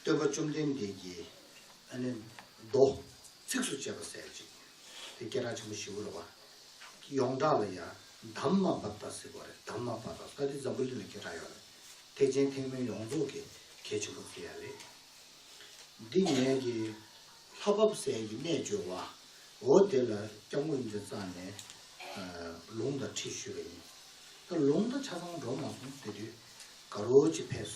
སྟོན་པ་བཅོམ་ལྡན་འདས་ཀྱིས་ཨ་ནི། རྡོ། ཚིགས་སུ་བཅད་པ་གསལ་ཅིག། དེ་སྐད་གྲགས་ཆེན་པོ་བཞི་བོ་རེ་བ། ཡོངས་གྲགས་ལ་ཡང་དམ་མ་བབས་ད་སི་གོ་རེ་དམ་མ་བབས་ད་ལྟ་དེ་འཛམ་བུ་གླིང་ལ་སྐད་གྲགས་ཡོད་རེད། ཐེག་ཆེན་ཐེག་དམན་ཡོངས་རྫོགས་ཀྱི་གལ་ཆེན་པོ་དེ་ཡང་རེད། འདི་ངེད་ཀྱི་ལྷ་བབས་གསལ་གྱི་རྣལ་འབྱོར་བ། འོ་དེ་ལ་སྐྱབས་མགོན་མཛད་གཙང་ནས། ལུང་དང་ཁྲིད་ཞུས་པ་ཡིན། ད་ལུང་དང་ཆ་ཚང་འགྲོ་མ་སོང་དེ་དུས་དགའ་རོལ་ཅིག་ཕེབས།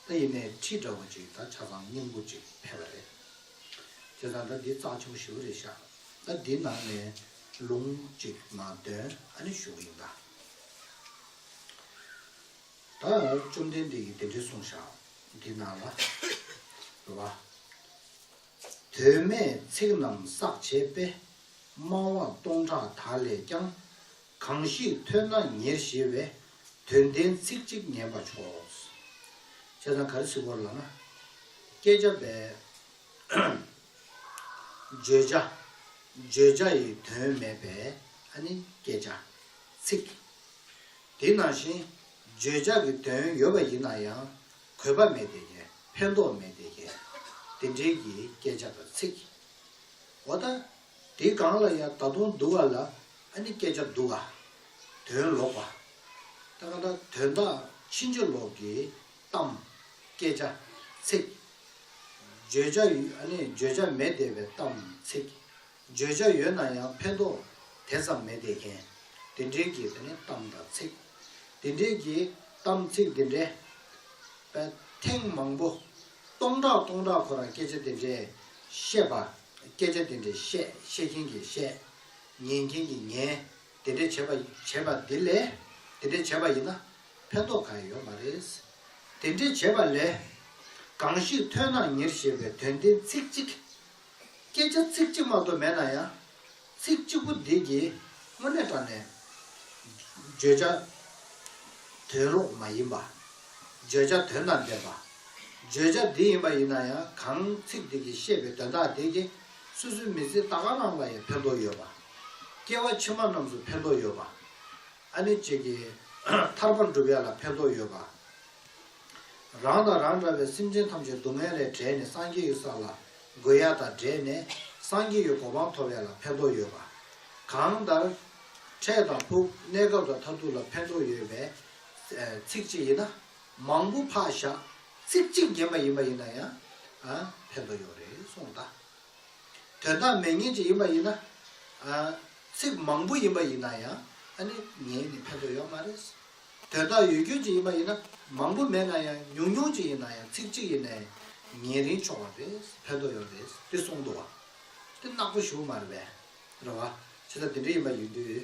ད་ཡིན་ནའི་ཁྲིད་འདྲ་བོ་ཅིག་ད་ཆ་ཚང་སྙིང་པོ་ཅིག་ཕེབས་པ་རེད། དེ་ཚང་ད་འདི་གཙང་ཆུང་ཞིབ་རེ་བཞག་ད་འདི་ནང་ནས་ལུང་ཅིག་མ་འདོན་ཨ་ནི་ཞུ་གི་ཡིན། ད་བཅོམ་ལྡན་འདས་ཀྱིས་དེ་འདྲའི་གསུངས་བཞག་འདི་ནང་ལ། ལ། དོན་མེད་ཚིག་རྣམས་བསགས་བྱས་པས་སྨྲ་བ་སྟོང་ཕྲག་དག་ལས་ཀྱང་གང་ཞིག་ཐོས་ན་ཉེར་ཞེས་བས། དོན་ལྡན་ཚིག་གཅིག་ཉན་པར་ཕྱོགས། བྱས་ཙང་ག་རེ་ཚིག་བོར་ལགས་ན། བསྐྱེད་བྱ་བས། བརྗོད་བྱ། བརྗོད་བྱ་ཡི་དོན་མེད་པས་ཨ་ནི་བསྐྱེད་བྱ། ཚིག། དེ་ནང་བཞིན། བརྗོད་བྱ་གི་དོན་ཡོད་པ་ཡིན་ན་ཡང། གོས་པ་མེད་དེ་ཀས་ཕན་འདོགས་མེད་དེ་ཀས། དེ་འབྲེལ་གྱི་བསྐྱེད་བྱ་དང་ཚིག། འོ་ད། དེ་གང་ལ་ཡང་ད་དུང་འདུག་བ་ལ་ཨ་ནི་སྐད་ཆ་འདུག་བ། དོན་ལོག་པ། ད་ག་ད་དོན་དག་ཕྱིན་ཅི་ལོག་གི་གཏམ། སྐད་ཆ། ཚིག། བརྗོད་བྱ་ཡོད་ཨ་ནི་བརྗོད་བྱ་མེད་བསྡད་པའི་གཏམ། ཚིག། བརྗོད་བྱ་ཡོད་ན་ཡང་ཕན་ཐོག་དེ་ཙམ་མེད་བསྡད་མཁན། དེ་འདྲའི་གི་དེ་ནི་གཏམ་དང་ཚིག། དེ་འདྲའི་གི་གཏམ་ཚིག་དེ་འདྲའི། པའི་ཐེངས་མང་པོ། སྟོང་ཕྲག་སྟོང་ཕྲག་ཁོ་རང་སྐད་ཆ་དེ་འདྲའི་བཤད་པ། སྐད་ཆ་འདི་འདྲའི་བཤད་བཤད་མཁན་གྱིས་བཤད། ཉན་མཁན་གྱིས་ཉན། དེ་འདྲའི་བྱེད་པ་བྱེད་པ་འདི་ལས། དེ་འདྲའི་བྱེད་པ་ཡིན་ན། ཕན་ཐོགས་གང་ཡང་ཡོད་མ་རེད། དེ་འདྲའི་བྱེད་པ་ལས། གང་ཞིག་ཐོས་ན་ཉེར་ཞེས་པའི་དོན་བདེན་ཚིག་གཅིག། སྐད་ཆ་ཚིག་གཅིག་མ་གཏོགས་མེད་ན་ཡང། ཚིག་གཅིག་པོ་འདི་ཀྱིས་དངོས་གནས་དྲངས་ནས། བརྗོད་བྱ་དོན་ལོག་མ་ཡིན་པ། བརྗོད་བྱ་དོན་དང་ལྡན་པ། བརྗོད་བྱ་འདི་ཡིན་པ་ཡིན་ན་ཡང་གང་ཚིག་འདི་ཀྱིས་བཤད་པའི་དོན་དག་དེ་ཀྱིས་སོ་སོའི་མི་ཚེའི་ལྟ་ག་རང་ལ་ཡང་ཕན་ཐོགས་ཡོད་པ། སྐྱེ་བ་ཕྱི་མ་རྣམས་སུ་ཕན་ཐོགས་ཡོད་པ། ཨ་ནི་བྱེད་ཀྱི། ཐར་པར་འགྲུབ་ཡ་ལ་ཕན་ཐོགས་ཡོད་པ། རང་དང་རང་འདྲ་བའི་སེམས་ཅན་ཐམས་ཅད་སྡུག་བསྔལ་ལས་བསྒྲལ་ནས་སངས་རྒྱས་ཡོད་ས་ལ་དགོས་ཡ་དག་བསྒྲལ་ནས་སངས་རྒྱས་ཡོད་གོ་འཕང་ཐོབ་ཡ་ལ་ཕན་ཐོགས་ཡོད་པ། གང་ལྟར། འཕྲད་དང་ཕུག་གནས་སྐབས་དང་མཐར་ཐུག་ལ་ཕན་ཐོགས་ཡོད་པས། ཚིག་གཅིག་ཡིན་ན་མང་པོ་འཕགས་བཞག་ཚིག་གཅིག་རྗེན་པ་ཡིན་པ་ཡིན་ན་ཡང། ཕན་ཐོགས་ཡོད་རེད་གསུངས་ད། དོན་དག་མེད་ངེས་ཅིག་ཡིན་པ་ཡིན་ན། ཚིག་མང་པོ་ཡིན་པ་ཡིན་ན་ཡང་ཨ་ནི་ངས་ནི་ཕན་ཐོགས་ཡོད་མ་རེད། དོན་དག་ཡོད་རྒྱུ་ཅིག་ཡིན་པ་ཡིན་ན་མང་པོ་མེད་ན་ཡང་ཉུང་ཉུང་ཅིག་ཡིན་ན་ཡང་ཚིག་གཅིག་ཡིན་ནའི་ཉེ་རིང་ཆོག་པ་རེད་ཕན་ཐོག་ཡོད་རེད་དེ་གསུངས་འདུག་བ་དེ་ནག་པོ་ཞུ་མ་རེད་པས་རེད་བ་ཇི་ལྟར་དེ་འདྲ་ཡིན་པ་ཡིན་དུས་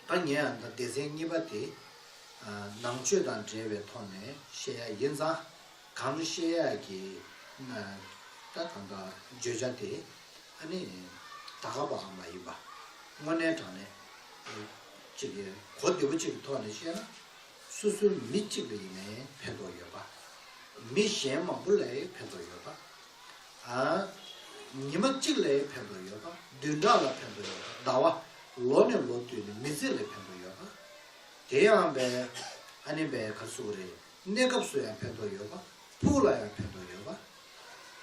ད་ངས་ཡང་སྡེ་ཚན་གཉིས་པ་དེ་ནང་ཆོས་དང་འབྲེལ་བའི་ཐོག་ནས་བཤད་ཡག་ཡིན་ཙང་གང་བཤད་ཡག་གི་ན་ད་གང་དག་བརྗོད་བྱ་དེ་ཨ་ནི་ད་ག་པའང་མ་ཡིན་པ་དངོས་གནས་དྲང་གནས་གཅིག་གིས་གོ་བདེ་པོ་གཅིག་གི་ཐོག་ནས་བཤད་ན། སོ་སོའི་མི་གཅིག་ལས་ནས་ཕན་ཐོགས་ཡོད་པ། མི་གཞན་མང་པོ་ལས་ཕན་ཐོགས་ཡོད་པ། ཉི་མ་གཅིག་ལས་ཕན་ཐོགས་ཡོད་པ། བདུན་ཕྲག་ལ་ཕན་ཐོགས་ཡོད་པ། ཟླ་བ། ལོ་ནས་ལོ་བསྟུད་ནས་མི་ཚེ་ལས་ཕན་ཐོགས་ཡོད་པ། དེ་ཡང་བའི། ཨ་ནེ་བའི་གར་སོགས་རེ། གནས་སྐབས་སུ་ཡང་ཕན་ཐོགས་ཡོད་པ། ཕུགས་ལ་ཡང་ཕན་ཐོགས་ཡོད་པ།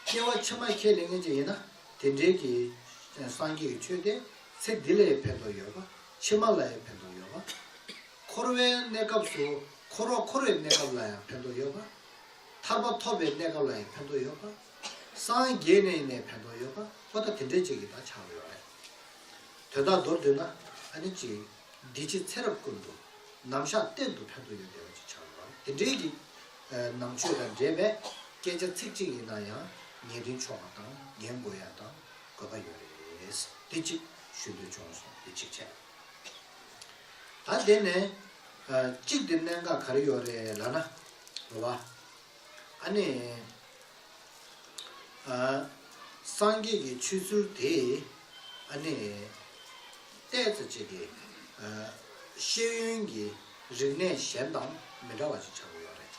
སྐྱེ་བ་ཕྱི་མ་ཁས་ལེན་མཁན་ཅིག་ཡིན་ན། དེ་འབྲེལ་གྱི། སངས་རྒྱས་ཀྱི་ཆོས་དེ། ཚེ་འདི་ལའི་ཕན་ཐོགས་ཡོད་པ། ཕྱི་མ་ལའི་ཕན་ཐོགས་ཡོད་པ། འཁོར་བའི་གནས་སྐབས་སུ་འཁོར་བ་འཁོར་བའི་གནས་སྐབས་ལ་ཡང་ཕན་ཐོགས་ཡོད་པ། ཐར་པ་ཐོབ་པའི་གནས་སྐབས་ལ་ཡང་ཕན་ཐོགས་ཡོད་པ། སངས་རྒྱས་ནས་ནས་ཕན་ཐོགས་ཡོད་པ་པོ་ད་དེ་འདྲའི་ཅིག་གི་དག་བྱ་བ་ཡོད་རེད། དོན་དག་མདོར་བསྡུས་ན་ཨ་ནི་གཅིག། འདི་ཕྱི་ཚེ་རབས་ཀུན་ཏུ། ནམ་བཞག་གཏན་དུ་ཕན་ཐོགས་ཡོད་བདེ་བ་ཅིག་བྱ་བ་ཡོད་རེད་དེ་འདྲའི་གི། ནང་ཆོས་དང་འདྲེས་པའི། སྐད་ཆ་ཚིག་གཅིག་ཡིན་ན་ཡང། ངེས་དོན་ཆོག་པ་དང་འགན་འགོ་ཡ་དང། དགོས་པ་ཡོད་རེད་དེ་གཅིག་ཞུ་འདོད་བྱུང་སོང་དེ་གཅིག་བྱས། ད་དེ་ནས་གཅིག་དེ་གནད་འགག་ག་རེ་ཡོད་རེད་ལ་ན། འགྲོ་བ། ཨ་ནི། སངས་རྒྱས་ཀྱི་ཆོས་ཚུལ་དེ། ཨ་ནི། ལྟས་ཚ་བྱས་ཏེ། ཤེས་ཡོན་གྱི་རིག་གནས་གཞན་དང་མི་འདྲ་བ་ཅིག་ཆགས་ཀྱི་ཡོད་རེད།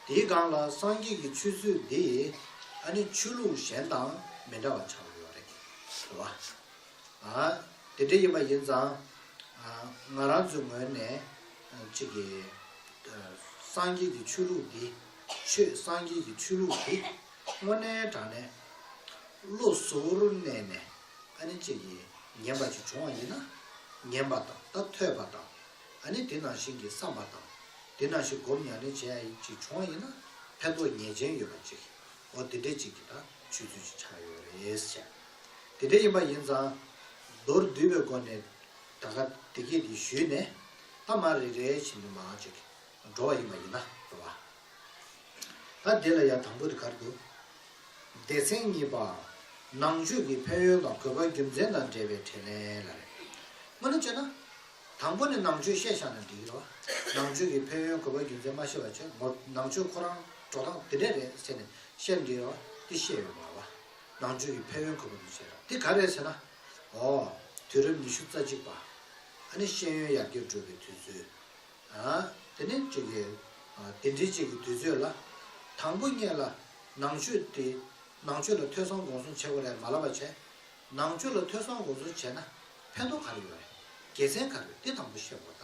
དེའི་སྒང་ལ་སངས་རྒྱས་ཀྱི་ཆོས་ཚུལ་འདི་ཨ་ནི་ཆོས་ལུགས་གཞན་དང་མི་འདྲ་བ་ཆགས་ཡོད་རེད། དེ་བ། དེ་འདྲ་ཡིན་པ་ཡིན་ཙང། ང་རང་ཚོའི་ངོས་ནས་གཅིག་གི། སངས་རྒྱས་ཀྱི་ཆོས་ལུགས་འདི། ཆོས་སངས་རྒྱས་ཀྱི་ཆོས་ལུགས་འདི། དངོས་གནས་དྲང་གནས། བློ་གཟུ་བོར་གནས་ནས་ཨ་ནི་གཅིག་གི་ཉན་པ་ཅིག་བྱུང་བ་ཡིན་ན། ཉན་པ་དང་ད་ཐོས་པ་དང་ཨ་ནི་དེ་ནང་བཞིན་གྱི་བསམ་པ་དང། དེ་ནང་བཞིན་སྒོམ་ཡང་ནི་བྱས་ཡིན་ཅིག་བྱུང་བ་ཡིན་ན་ཕན་ཐོགས་ངེས་ཅན་ཡོད་པ་ཅིག་འོ་དེ་འདྲའི་ཅིག་གི་ད་ཆུད་ཚུལ་ཅིག་ཆགས་ཡོད་རེད་ཟེར། དེ་འདྲ་ཡིན་པ་ཡིན་ཙང། མདོར་བསྡུས་པའི་སྒོ་ནས་ད་ག་དེ་སྐད་དེ་ཞུས་ནས་ད་མར་རེ་རེ་བཞིན་དུ་མང་ཅིག་འགྲོ་བ་ཡིན་པ་ཡིན་ན་རེ་བ། ད་དེ་ལ་ཡང་དང་པོ་དེ་གར་དུ། སྡེ་ཚན་གཉིས་པ། ནང་ཆོས་ཀྱི་ཕན་ཡོན་དང་གོ་བ་རྒྱུ་མཚན་དང་འབྲེལ་བའི་དྲིས་ལན་ལ་རེ་སྔོན་ནས་བཅད་ན། དང་པོ་ནི་ནང་ཆོས་བཤད་བཞག་ནས་འབྲེལ་ཡོད་ནང་ཆོས་ཀྱི་ཕན་ཡོན་གོ་བའི་རྒྱུ་མཚན་མ་ཤེས་པ་ཆེ་ངོ་ནང་ཆོས་ཁོ་རང་འགྲོ་སྟངས་དེ་འདྲས་རེད་ཟེར་ནས་བཤད་འབྲེལ་ཡོད་དེ་བཤད་ཡོད་མ་བ་ནང་ཆོས་ཀྱི་ཕན་ཡོན་གོ་བ་འདུ་བྱེད་ར་དེ་ག་རེད་ཟེར་ན་ཨོ་དུས་རབས་ཉི་ཤུ་རྩ་གཅིག་པ་ཨ་ནི་ཤེས་ཡོན་ཡར་རྒྱས་འགྲོ་བའི་དུས་ཚོད་ཨ་དེ་ནི་གཅིག་གི་དེ་འདྲི་གཅིག་གི་དུས་ཚོད་ལ་དང་པོ་གཉེས་ལ་ནང་ཆོས་དེ་ནང་ཆོས་ལ་ཐོས་བསམ་དགོངས་གསུང་བྱེད་དགོས་རེད་མ་ལབ་པ་བྱས། ནང་ཆོས་ལ་ཐོས་བསམ་འོ་ཟོ་བྱས་ན་ཕན་ཐོག་ག་རེ་ཡོད་རེད། དགེ་མཚན་ག་རེ་ཡོད་དེ་དང་པོ་བཤད་གོ་ད།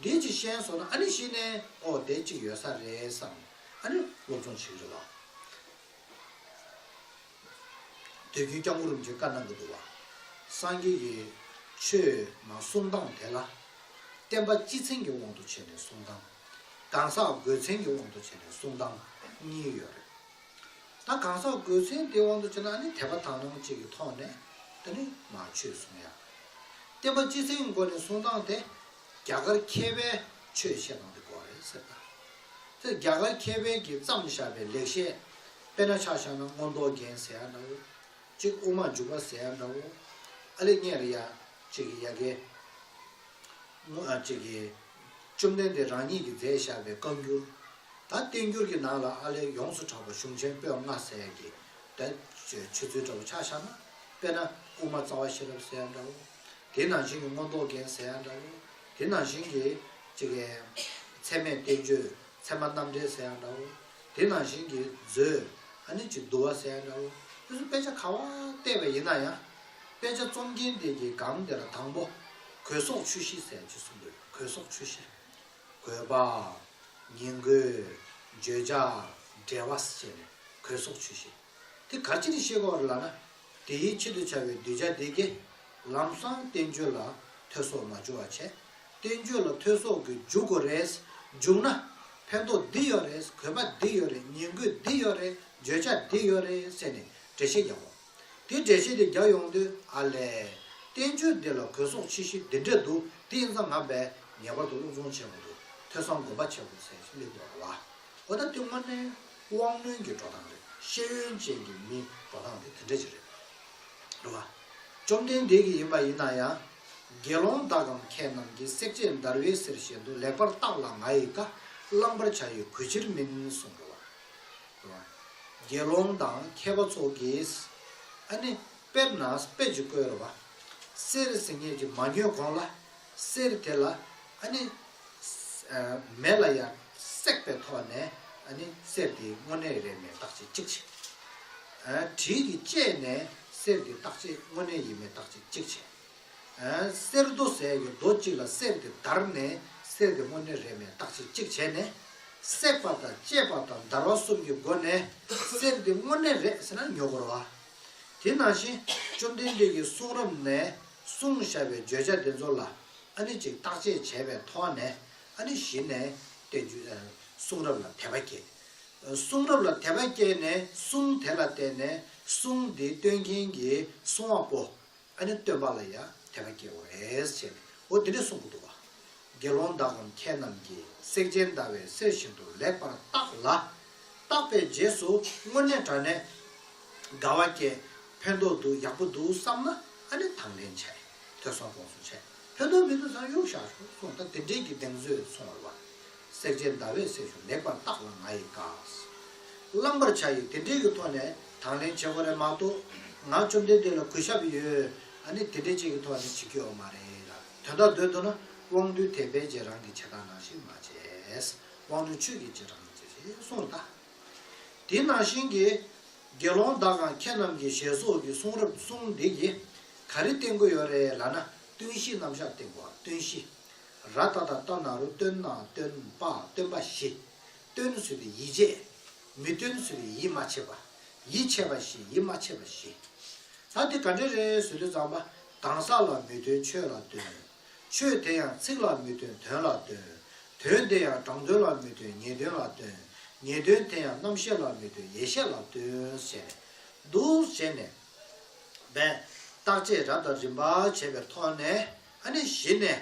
དེའི་རྗེས་གཞན་བཟོ་ན་ཨ་ནི་གཞི་ནས་ཨོ་དེ་གཅིག་ཡོད་ས་རེད་བསམ་ནས་ཨ་ནི་སློབ་སྦྱོང་བྱེད་ཀྱི་རེད་ལགས། དུས་རྒྱུན་སྐྱབས་མགོན་རིན་པོ་ཆེ་བཀའ་གནང་གི་འདུག་བ། སངས་རྒྱས་ཀྱི་ཆོས་ནང་གསུམ་སྟངས་དེ་ལ། བསྟན་པ་སྤྱི་མཚན་གྱི་དབང་དུ་བྱས་ནས་གསུངས་སྟངས། གང་ཟག་སྒོས་མཚན་གྱི་དབང་དུ་བྱས་ནས་གསུངས་སྟངས་གཉིས་ཡོད་རེད། ད་གང་ཟག་སྒོས་མཚན་དེའི་དབང་དུ་བྱས་ན་ནི་དད་པ་དག་སྣང་བཅས་ཀྱི་ཐོག་ནས་ད་ནི་མ་ཆོས་གསུང་ཡ། བསྟན་པ་སྤྱི་གསལ་གྱི་སྒོ་ནས་གསུང་སྟངས་དེ་རྒྱ་གར་མཁས་པས་ཆོས་བཤད་སྟངས་དེ་གོ་རེད་ཟེར། དེར་རྒྱ་གར་མཁས་པས་ཀྱིས་བརྩམས་བཞག་པའི་ལེགས་བཤད་དཔེ་ན་ཆགས་བཞག་ན་མངོན་རྟོགས་རྒྱན་ཟེར་ཡ་འདྲ་བོ། གཅིག་དབུ་མ་འཇུག་པ་ཟེར་ཡ་འདྲ་བོ། ཨ་ལེ་རྙེད་རེད་ཡ། ཅེས་ཀྱི་ཡ། གེ་མོ་ཨ་ཅེས་ཀྱི། བཅོམ་ལྡན་འདས་རང་ཉིད་ཀྱི་མཛད་བཞག་པའི་བཀའ་འགྱུར། ད་བསྟན་འགྱུར་གྱི་ནང་ལ་ཨ་ལས་ཡོངས་སུ་གྲགས་པ་གཞུང་ཆེན་པོད་ལྔ་གསལ་གྱི་བརྡ། ཆོས་ཚུལ་འདྲ་བོ་ཆ་བཞག་ན། དཔེར་ན་དབུ་མ་རྩ་བ་ཤེས་རབ་གསལ་ཡང་འདྲ་བོ། དེ་ནང་བཞིན་གྱི་མངོན་རྟོགས་རྒྱན་གསལ་ཡང་འདྲ་བོ། དེ་ནང་བཞིན་གྱི། ཚད་མེད་བསྟན་བཅོས་ཚད་མ་རྣམ་འགྲེལ་གསལ་ཡང་འདྲ་བོ། དེ་ནང་བཞིན་གྱི། མཛོད། ཨ་ནི་ཅིག་བསྡུ་བ་གསལ་ཡང་འདྲ་བོ། དེ་ཚོ་དཔེ་ཆ་ག་བ་བལྟས་པས་ཡིན་ན་ཡང། དཔེ་ཆ་རྩོམ་མཁན་དེ་གྱིས་སྒང་དེར་དང་པོ། གོས་སོགས་ཆུ་བཞི་ཟེར་ཅེས་གསུངས་འདུག་གོས་སོགས་ཆུ་བཞི། གོས་པ། ཉིང་གོས། བརྗོད་བྱ། འབྲེལ་བ། བཅས་ནས་གོས་སོགས་ཆུ་བཞི། དེ་ག་ཅིར་ཤེས་སྐོར་ལ་ན། དེའི་ཆེད་དུ་བྱ་བའི་གདུལ་བྱ་དེ་དགེ། ལམ་སང་བསྟན་བཅོས་ལ་ཐོས་སོགས་མ་བྱུང་བ་བྱས། བསྟན་བཅོས་ལ་ཐོས་སོགས་ཀྱི་འཇུག་སྒོ་རེད། འཇུག་ན། ཕན་ཐོགས་འདི་ཡོད་རེད་གོས་པ་འདི་ཡོད་རེད་ཉིང་གོས་འདི་ཡོད་རེད་བརྗོད་བྱ་འདི་ཡོད་རེད་ཟེར་ནས་འགྲེལ་བཤད་རྒྱག་དགོས། དེ་འདྲའི་ཤེས་བདེ་རྒྱག་ཡོང་དུས་ཨ་ལས། བསྟན་བཅོས་འདི་ལ་གོས་སོགས་ཆེ་བཞི་འདི་འདྲས་འདུག་འདི་ཨིན་ཙང་ངམ་པས་ངེས་པར་དུ་བློ་བཟང་ཆེན་མོ་དུ་ཐོས་བསམ་སྒོམ་པ་ཆེན་པོ་ཚེ་གླིང་དུ་ར་བ། ཨོ་ད་དེ་དངོས་གནས་དབང་རྣོན་གྱི་འགྲོ་སྟངས་རེད་ཤེས་ཡོན་ཅན་གྱི་མིའི་འགྲོ་སྟངས་དེ་དེ་འདྲས་ཅིག་རེད་ར་བ། བཅོམ་ལྡན་འདས་ཀྱི་ཡིན་པ་ཡིན་ན་ཡང། དགེ་སློང་དག་གམ་ཁྱེད་རྣམས་ཀྱིས་སྲེག་བཅད་འདར་བའི་གསེར་བཞིན་དུ་ལེགས་པར་བརྟགས་ལ་ང་ཡི་བཀའ་བླང་པར་བྱ་ཡི་གུས་ཕྱིར་མིན་གསུངས་ར་བ། དགེ་སློང་དང་མཁས་པ་ཚོགས་ཀྱིས། ཨ་ནི། དཔེར་ན་དཔེ་ཅིག་བཀོད་རོགས། གསེར་གཟི་ངད་ཀྱིས་མ་ཉོས་གོང་ལ། གསེར་དེ་ལ། ཨ་ནི། མེ་ལ་ཡང་བསྲེགས་པའི་ཐོག་ནས། ཨ་ནི། གསེར་དེའི་སྔོ་ནད་རེད་མེད་བརྟག་དཔྱད་ཅིག་བྱེད། དྲིས་ཀྱིས་དཔྱད་ནས་གསེར་དེའི་བརྟག་དཔྱད་སྔོ་ནད་ཡིན་མིན་བརྟག་དཔྱད་ཅིག་བྱེད། གསེར་རྡོ་ཟེར་བའི་རྡོ་གཅིག་ལ་གསེར་དེ་བརྡར་ནས་གསེར་དེ་དངོས་གནས་རེད་མེད་བརྟག་དཔྱད་གཅིག་བྱས་ནས། བསྲེག་པ་དང་བཅད་པ་དང་བརྡར་བ་གསུམ་གྱི་སྒོ་ནས་གསེར་དེ་དངོས་གནས་རེད་ཟེར་ན་ཉོ་གོར་བ། དེ་ནང་བཞིན་བཅོམ་ལྡན་འདས་ཀྱི་གསུང་རབ་ནས་གསུངས་བཞག་པའི་བརྗོད་བྱ་དེ་ཚོ་ལ་ཨ་ནི་ཅིག་བརྟག་དཔྱད་བྱས་པའི་ཐོག་ནས་ཨ་ནི་གཞི་ནས་བསྟན་རྒྱུ། གསུང་རབ་ལ་དད་པ་བསྐྱེད། གསུང་རབ་ལ་དད་པ་བསྐྱེད་ནས་གསུང་དེ་ལ་བརྟེན་ནས་གསུང་དེ་སྟོན་མཁན་གྱི་གསུང་བ་པོ། ཨ་ནི་སྟོན་པ་ལ་ཡང་དད་པ་སྐྱེ་བ་རེད་ཟེར་ནས་འོ་དེ་ནས་གསུངས་གི་འདུག་བ། དགེ་སློང་དག་གམ་ཁྱེད་རྣམས་ཀྱིས་སེག་ཅན་ཟླ་བའི་གསེར་བཞིན་དུ་ལེགས་པར་བརྟགས་ལ། བརྟགས་པའི་རྗེས་སུ་དངོས་གནས་དྲ་ནས་དགའ་བ་སྐྱེས། ཕན་ཐོགས་འདུག་ཡག་པོ་འདུག་བསམ་ན་ཨ་ནི་དང་ལེན་བྱས། ཐོས་བསམ་དགོངས་སུ་བྱས། ཕན་ཐོགས་མི་འདུག་བསམ་གཡུག་བཞག་ཆོག་གསུངས་ད་དེ་འབྲེལ་གྱི་གདེང་ཚོད་སོང་བར་བ། བསྲེག་བྱའི་ཟླ་བས་སྲེག་ཞོ་ལེགས་པར་བཏགས་ལ་ང་ཡིས་བཀགས། བླང་བར་བྱ་ཡི་དེ་འདྲའི་གི་ཐོག་ནས་དང་ལེན་བྱེད་དགོས་རེད་མ་གཏོགས། ང་བཅོམ་ལྡན་འདས་ལ་གུས་ཞབས་ཡོད་ཨ་ནི་དེ་འདྲའི་ཅིག་གི་ཐོག་ནས་བྱེད་ཀྱི་ཡོད་མ་རེད་ལ་དོན་དག་འདོད་འདུག་ན་དབང་རྟུལ་དེས་ཕལ་ཆེར་རང་གི་བྱེད་སྟངས་ནང་བཞིན་མ་བྱས། དབང་རྟུལ་ཆོས་ཀྱི་བྱེད་སྟངས་ནང་བྱས་ཞེས་གསུངས་ལ། དེ་ནང་བཞིན་གྱི། དགེ་སློང་དག་གང་ཁྱེད་རྣམས་ཀྱི་ཞལ་སོགས་ཀྱི་གསུང་རབ་གསུང་འདི་ཡིས། ག་རེ་བསྟན་དགོས་ཡོད་རེད་ལ་ན་བསྟུན་གཞི་རྣམ་བཞག་བསྟན་དགོས་བ་བསྟུན་གཞི། ར་ཏཱ་ད་ཏཱ་ན་རུ་སྟོན་ན་སྟོན་པ་སྟོན་པ་བཞི། སྟོན་བཟོད་པའི་ཡིད་བྱེད། མི་སྟོན་བཟོད་པའི་ཡིད་མ་ཆེས་པ། ཡིད་ཆེས་པ་བཞི་ཡིད་མ་ཆེས་པ་བཞི། ད་འདི་ག་འདྲའི་རེད་ཟོས་ལུས་ཙམ་པ། གང་ཟག་ལ་མི་སྟོན་ཆོས་ལ་སྟོན། ཆོས་དེ་ཡང་ཚིག་ལ་མི་སྟོན་དོན་ལ་སྟོན། དོན་དེ་ཡང་དྲང་དོན་ལ་མི་སྟོན་ངེས་དོན་ལ་སྟོན། ངེས་དོན་དེ་ཡང་རྣམ་ཤེས་ལ་མི་སྟོན་ཡེ་ཤེས་ལ་སྟོན། ཟེར་ནས་འདུག་བྱས་ནས། བས། བརྟག་དཔྱད་རབ་དང་རིམ་པར་བྱས་པའི་ཐོག་ནས། ཨ་ནི་བཞི་ནས།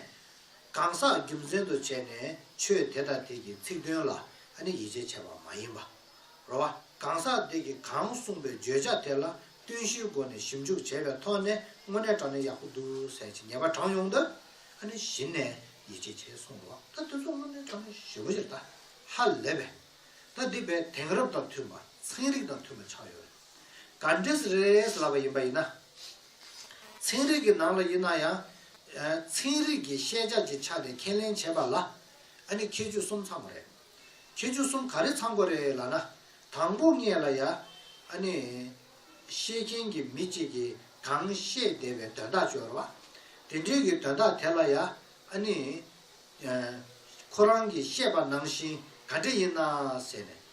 གང་ཟག་རྒྱུ་མཚན་དུ་བྱས་ནས་ཆོས་དེ་དང་དེ་ཀྱི་ཚིག་དོན་ལ་ཨ་ནི་ཡིད་ཆེས་བྱ་བ་མ་ཡིན་པ། རོ། གང་ཟག་དེ་ཀྱིས་གང་གསུངས་པའི་བརྗོད་བྱ་དེ་ལ་བསྟུན་གཞིའི་སྒོ་ནས་ཞིབ་འཇུག་བྱས་པའི་ཐོག་ནས་དངོས་གནས་དྲང་ནས་ཡག་པོ་འདུག་ཟེར་གྱི་ཉེས་པ་དྲངས་ཡོང་དུས་ཨ་ནི་བཞི་ནས་ཡིད་ཆེས་བྱེད་སོང་བ་ད་དེ་ཚོ་དངོས་གནས་དྲང་ནས་ཞེ་བོ་ཞིག་ད་ཧ་ལས་པས། ད་འདི་བས་དེང་རབས་དང་མཐུན་པ་ཚན་རིག་དང་མཐུན་པ་ཆགས་ཡོད་རེད། གར་འདྲེས་རེས་ལབ་པ་ཡིན་པ་ཡིན་ན། ཚན་རིག་གི་ནང་ལ་ཡིན་ན་ཡང། ཚན་རིག་གི་ཤེས་བྱ་གྱི་ཆ་ནས་ཁས་ལེན་བྱས་པ་ལ། ཨ་ནི་ཁྱད་ཆོས་གསུམ་ཚང་བ་རེད། ཁྱད་ཆོས་གསུམ་ག་རེ་ཚང་པོ་རེད་ལ་ན། དང་པོ་ལྔས་ལ་ཡ། ཨ་ནི། ཤེས་མཁན་གྱི་མི་གཅིག་གིས་གང་བཤད་བདེ་བའི་དོན་དག་སྤྱོར་བ། དེ་འབྲེལ་གྱི་དོན་དག་དེ་ལ་ཡ། ཨ་ནི། ཁོ་རང་གིས་བཤད་པ་ནང་བཞིན་ག་འདྲ་ཡིན་ན་ཟེར་ནས།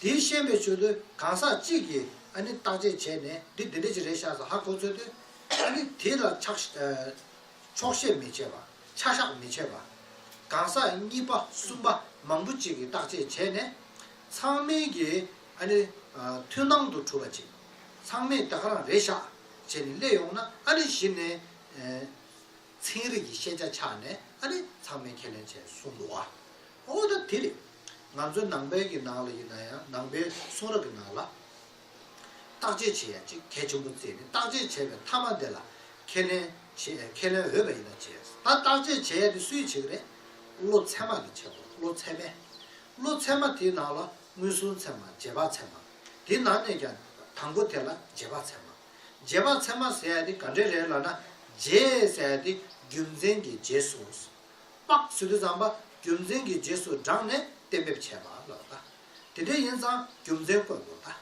དེའི་ཤན་པའི་ཆོས་དོན་གང་ཟག་གཅིག་གིས་ཨ་ནི་བརྟག་དཔྱད་བྱས་ནས་འདི་འདི་འདྲ་ཅིག་རེད་ཤག་ཟ་ཧ་གོ་ཚོད་དོན་ཨ་ནི་དེ་ལ་ཆགས་ཆོག་བཤད་མི་བྱེད་པ་ཆ་བཞག་མི་བྱེད་པ། གང་ཟག་གཉིས་པ་གསུམ་པ་མང་པོ་ཅིག་གིས་བརྟག་དཔྱད་བྱས་ནས། ཚང་མིན་གྱི་ཨ་ནི་མཐུན་སྣང་དུ་གྲུབ་པ་ཅིག་ཚང་མས་དེ་ག་རང་རེད་ཤག་བྱས་ནས་གླས་ཡོང་ན་ཨ་ནི་གཞི་ནས་ཚན་རིག་གི་ཤེས་བྱ་ཆགས་ནས་ཨ་ནི་ཚང་མས་ཁས་ལེན་བྱས་གསུངས་འདུག་ཨོ་ད་དེ་རེད། ང་ཚོའི་ནང་པའི་གྱི་ནང་ལ་ཡིན་ན་ཡང་ནང་པའི་གསུང་རབ་ཀྱི་ནང་ལ། བརྟག་དཔྱད་བྱེད་ཡ་གཅིག་གལ་ཆེན་པོ་བཙལ་ནས་བརྟག་དཔྱད་བྱས་པའི་མཐའ་མ་དེ་ལ་ཁས་ལེན་བྱེད་ཁས་ལེན་འོས་པ་ཡིན་ན་བྱས། ད་བརྟག་དཔྱད་བྱེད་ཡ་དེ་སུས་བྱེད་ཀྱི་རེད། བློ་ཚད་མ་གྱིས་བྱེད་དགོས་བློ་ཚད་མས། བློ་ཚད་མ་དེའི་ནང་ལ་མངོན་སུམ་ཚད་མ་རྗེས་དཔག་ཚད་མ། དེའི་ནང་ནས་ཀྱང་དང་པོ་དེ་ལ་རྗེས་དཔག་ཚད་མ། རྗེས་དཔག་ཚད་མ་ཟེར་ཡ་དེ་ག་འདྲའི་རེད་ལབ་ན་རྗེས་ཟེར་ཡ་དེ་རྒྱུ་མཚན་གྱི་རྗེས་སུ། དཔག་ཚུལ་དུ་ཛམ་པ་རྒྱུ་མཚན་གྱི་རྗེས་སུ་འབྲངས་ནས་གཏན་འབེབས་བྱས་པ་ལ་བལྟ། དེ་འདྲ་ཡིན་ཙང་རྒྱུ་མཚན་བཀོད་དགོས་བལྟ།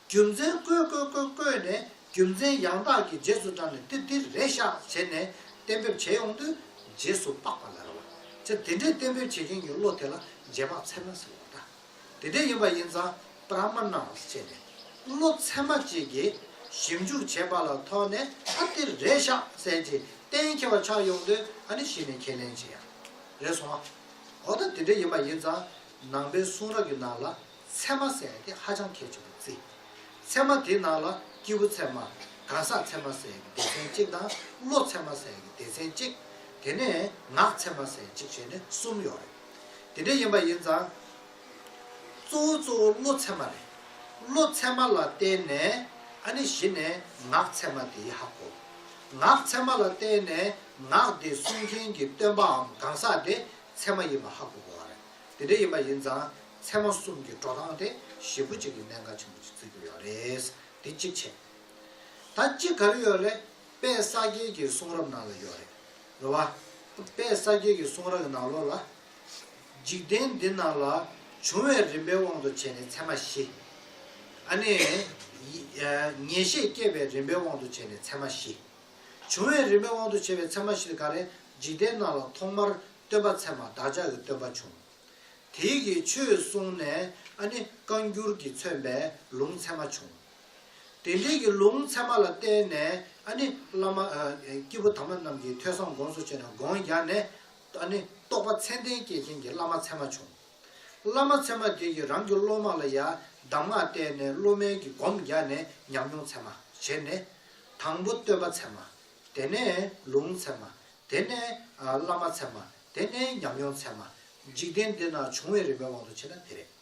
རྒྱུ་མཚན་བཀོད་བཀོད་བཀོད་བཀོད་ནས་རྒྱུ་མཚན་ཡང་དག་གི་རྗེས་སུ་འབྲངས་ནས་ཏིར་ཏིར་རེ་བཞག་བྱས་ནས་གཏན་འབེབས་བྱས་ཡོང་དུས་རྗེས་སུ་དཔག་པ་ལ་རེ་བ་ཅི། དེ་འདྲའི་གཏན་འབེབས་བྱེད་མཁན་གྱི་བློ་དེ་ལ་རྗེས་དཔག་ཚད་མ་ཟེར་བ་བལྟ། དེ་དེ་ཡིན་པ་ཡིན་ཙང་པ་ར་མ་ན་བ་སེ་བྱས་ནས་བློ་ཚད་མ་གཅིག་གིས་ཞིབ་འཇུག་བྱས་པ་ལ་ཐོག་ནས་ཨ་ཏིར་རེད་ཤག་གསལ་གྱིས་གཏན་འཁེལ་བ་ཆགས་ཡོང་དུས་ཨ་ནི་གཞི་ནས་ཁས་ལེན་བྱེད་ཡག་རེད་སོང་ཨ། འོ་ད་དེ་དེ་ཡིན་པ་ཡིན་ཙང་ནང་པའི་གསུང་རབ་ཀྱི་ནང་ལ་ཚད་མ་ཟེར་ཏེ་ཧ་ཅང་གལ་ཆེན་པོ་བརྩི། ཚད་མ་དེའི་ནང་ལ་སྐྱེས་བུ་ཚད་མ། གང་ཟག་ཚད་མ་ཟེར་གྱི་སྡེ་ཚན་གཅིག་དང་བློ་ཚད་མ་ཟེར་གྱི་སྡེ་ཚན་གཅིག། དེ་ནས་ངག་ཚད་མ་ཟེར་གཅིག་བྱས་ནས་གསུམ་ཡོད་རེད། དེ་འདྲའི་ཡིན་པ་ཡིན་ཙང། གཙོ་བོ་གཙོ་བོ་བློ་ཚད་མ་རེད། བློ་ཚད་མ་ལ་བརྟེན་ནས་ཨ་ནི་གཞི་ནས་ངག་ཚད་མ་དེ་ཡི་ཧ་གོ། ངག་ཚད་མ་ལ་བརྟེན་ནས་ངག་དེ་གསུང་མཁན་གྱི་སྟོན་པའམ་གང་ཟག་དེ་ཚད་མ་ཡིན་པ་ཧ་གོ་དགོས་བ་རེད། དེ་འདྲའི་ཡིན་པ་ཡིན་ཙང་ཚད་མ་གསུམ་གྱི་འགྲོ་སྟངས་དེ་ཞེ་དགུ་གཅིག་གི་གནད་འགག་ཆེན་པོ་གཅིག་བརྩི་དགོས་ཡོད་རེད། དེ་གཅིག་བྱས། ད་གཅིག་ག་རེ་ཡོད་རེད་དཔལ་ས་སྐྱའི་གྱི་གསུང་རབ་ནང་ལ་ཡོད་རེད། རེ་བ། དཔལ་ས་སྐྱའི་གི་གསུང་རག་གི་ནང་ལོགས་ལ། འཇིག་རྟེན་འདི་རྣམས་ལ། འབྱུང་བའི་རིམ་པའི་དབང་དུ་བྱས་ནས་མཚན་མ་བཞི། ཨ་ནི། ངེས་ཤེས་སྐྱེད་པའི་རིམ་པའི་དབང་དུ་བྱས་ནས་མཚན་མ་བཞི། འབྱུང་བའི་རིམ་པའི་དབང་དུ་བྱས་པའི་མཚན་མ་བཞི་ནི་ག་རེ། འཇིག་རྟེན་རྣམས་ལ་ཐོག་མར་སྟོན་པ་མཚན་མ་བདག་ཅག་གི་སྟོན་པ་བྱུང། དེའི་གི་ཆོས་གསུངས་ནས་ཨ་ནི་བཀའ་འགྱུར་གྱི་མཚོན་པའི་ལུང་མཚན་མ་བྱུང། དེ་འབྲེལ་གྱི་ལུང་ཚད་མ་ལ་བརྟེན་ནས་ཨ་ནི་བླ་མ། སྐྱེས་བུ་དམ་པ་རྣམས་ཀྱིས་ཐོས་བསམ་དགོངས་སུ་བྱས་ནས་དགོངས་རྒྱག་ནས། ཨ་ནི་རྟོགས་པ་མཚན་ལྡན་སྐྱེས་ཆེན་གྱི་བླ་མ་ཚད་མ་བྱུང། བླ་མ་ཚད་མ་དེ་ཡིས་རང་གི་སློབ་མ་ལ་ཡང་གདམས་ངག་བསྟན་ནས་སློབ་མའི་གྱི་སྒོམ་རྒྱག་ནས་ཉམས་མྱོང་ཚད་མ་བྱས་ནས། དང་པོ་སྟོན་པ་ཚད་མ། དེ་ནས་ལུང་ཚད་མ། དེ་ནས་བླ་མ་ཚད་མ། དེ་ནས་ཉམས་མྱོང་ཚད་མ། འཇིག་རྟེན་འདི་ན་བྱུང་བའི་རིམ་པའི་དབང་དུ་བྱས་ན་དེ་རེད།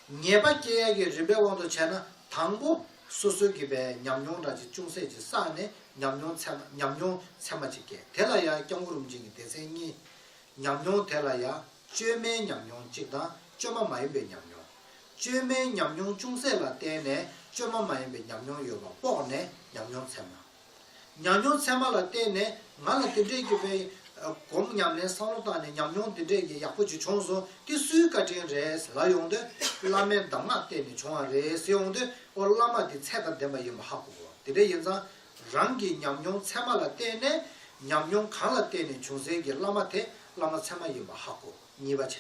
ངེས་པ་སྐྱེ་ཡ་གི་རིམ་པའི་དབང་དུ་བྱས་ན་དང་པོ། སོ་སོའི་གི་པའི་ཉམས་མྱོང་འདྲ་གཅིག་ཅུང་ཟད་ཅིག་བསགས་ནས་ཉམས་མྱོང་ཚད་མ་ཉམས་མྱོང་ཚད་མ་ཅིག་སྐྱེ་དེ་ལ་ཡང་སྐྱབས་མགོ་རུམ་ཅན་གྱི་སྡེ་ཚན་གཉིས། ཉམས་མྱོང་དེ་ལ་ཡང་བཅོས་མའི་ཉམས་མྱོང་གཅིག་དང་བཅོས་མ་མ་ཡིན་པའི་ཉམས་མྱོང། བཅོས་མའི་ཉམས་མྱོང་ཅུང་ཟད་ལ་བརྟེན་ནས་བཅོས་མ་མ་ཡིན་པའི་ཉམས་མྱོང་ཡོད་པ་དཔོག་ནས་ཉམས་མྱོང་ཚད་མ། ཉམས་མྱོང་ཚད་མ་ལ་བརྟེན་ནས་ང་ལ་དེ་འདྲས་ཀྱི་བེའི་གོམས་ཉམས་ལེན་བསམ་བློ་བཏང་ནས་ཉམས་མྱོང་དེ་འདྲས་ཀྱི་ཡག་པོ་ཅིག་བྱུང་སོང་དེ་སུའི་བཀའ་དྲིན་རེད་ལབ་ཡོང་དུས་བླ་མའི་གདམས་ངག་བརྟེན་ནས་བྱུང་བ་རེད་ཟེར་ཡོང་དུས་ཨོ་བླ་མ་འདི་ཚད་དང་ལྡན་པ་ཡིན་པ་ཧ་གོ་གོ་དེ་འདྲས་ཡིན་ཙང་རང་གི་ཉམས་མྱོང་ཚད་མ་ལ་བརྟེན་ནས་ཉམས་མྱོང་གང་ལ་བརྟེན་ནས་བྱུང་ཟེར་གྱི་བླ་མ་དེ་བླ་མ་ཚད་མ་ཡིན་པ་ཧ་གོ་གཉིས་པ་བྱས་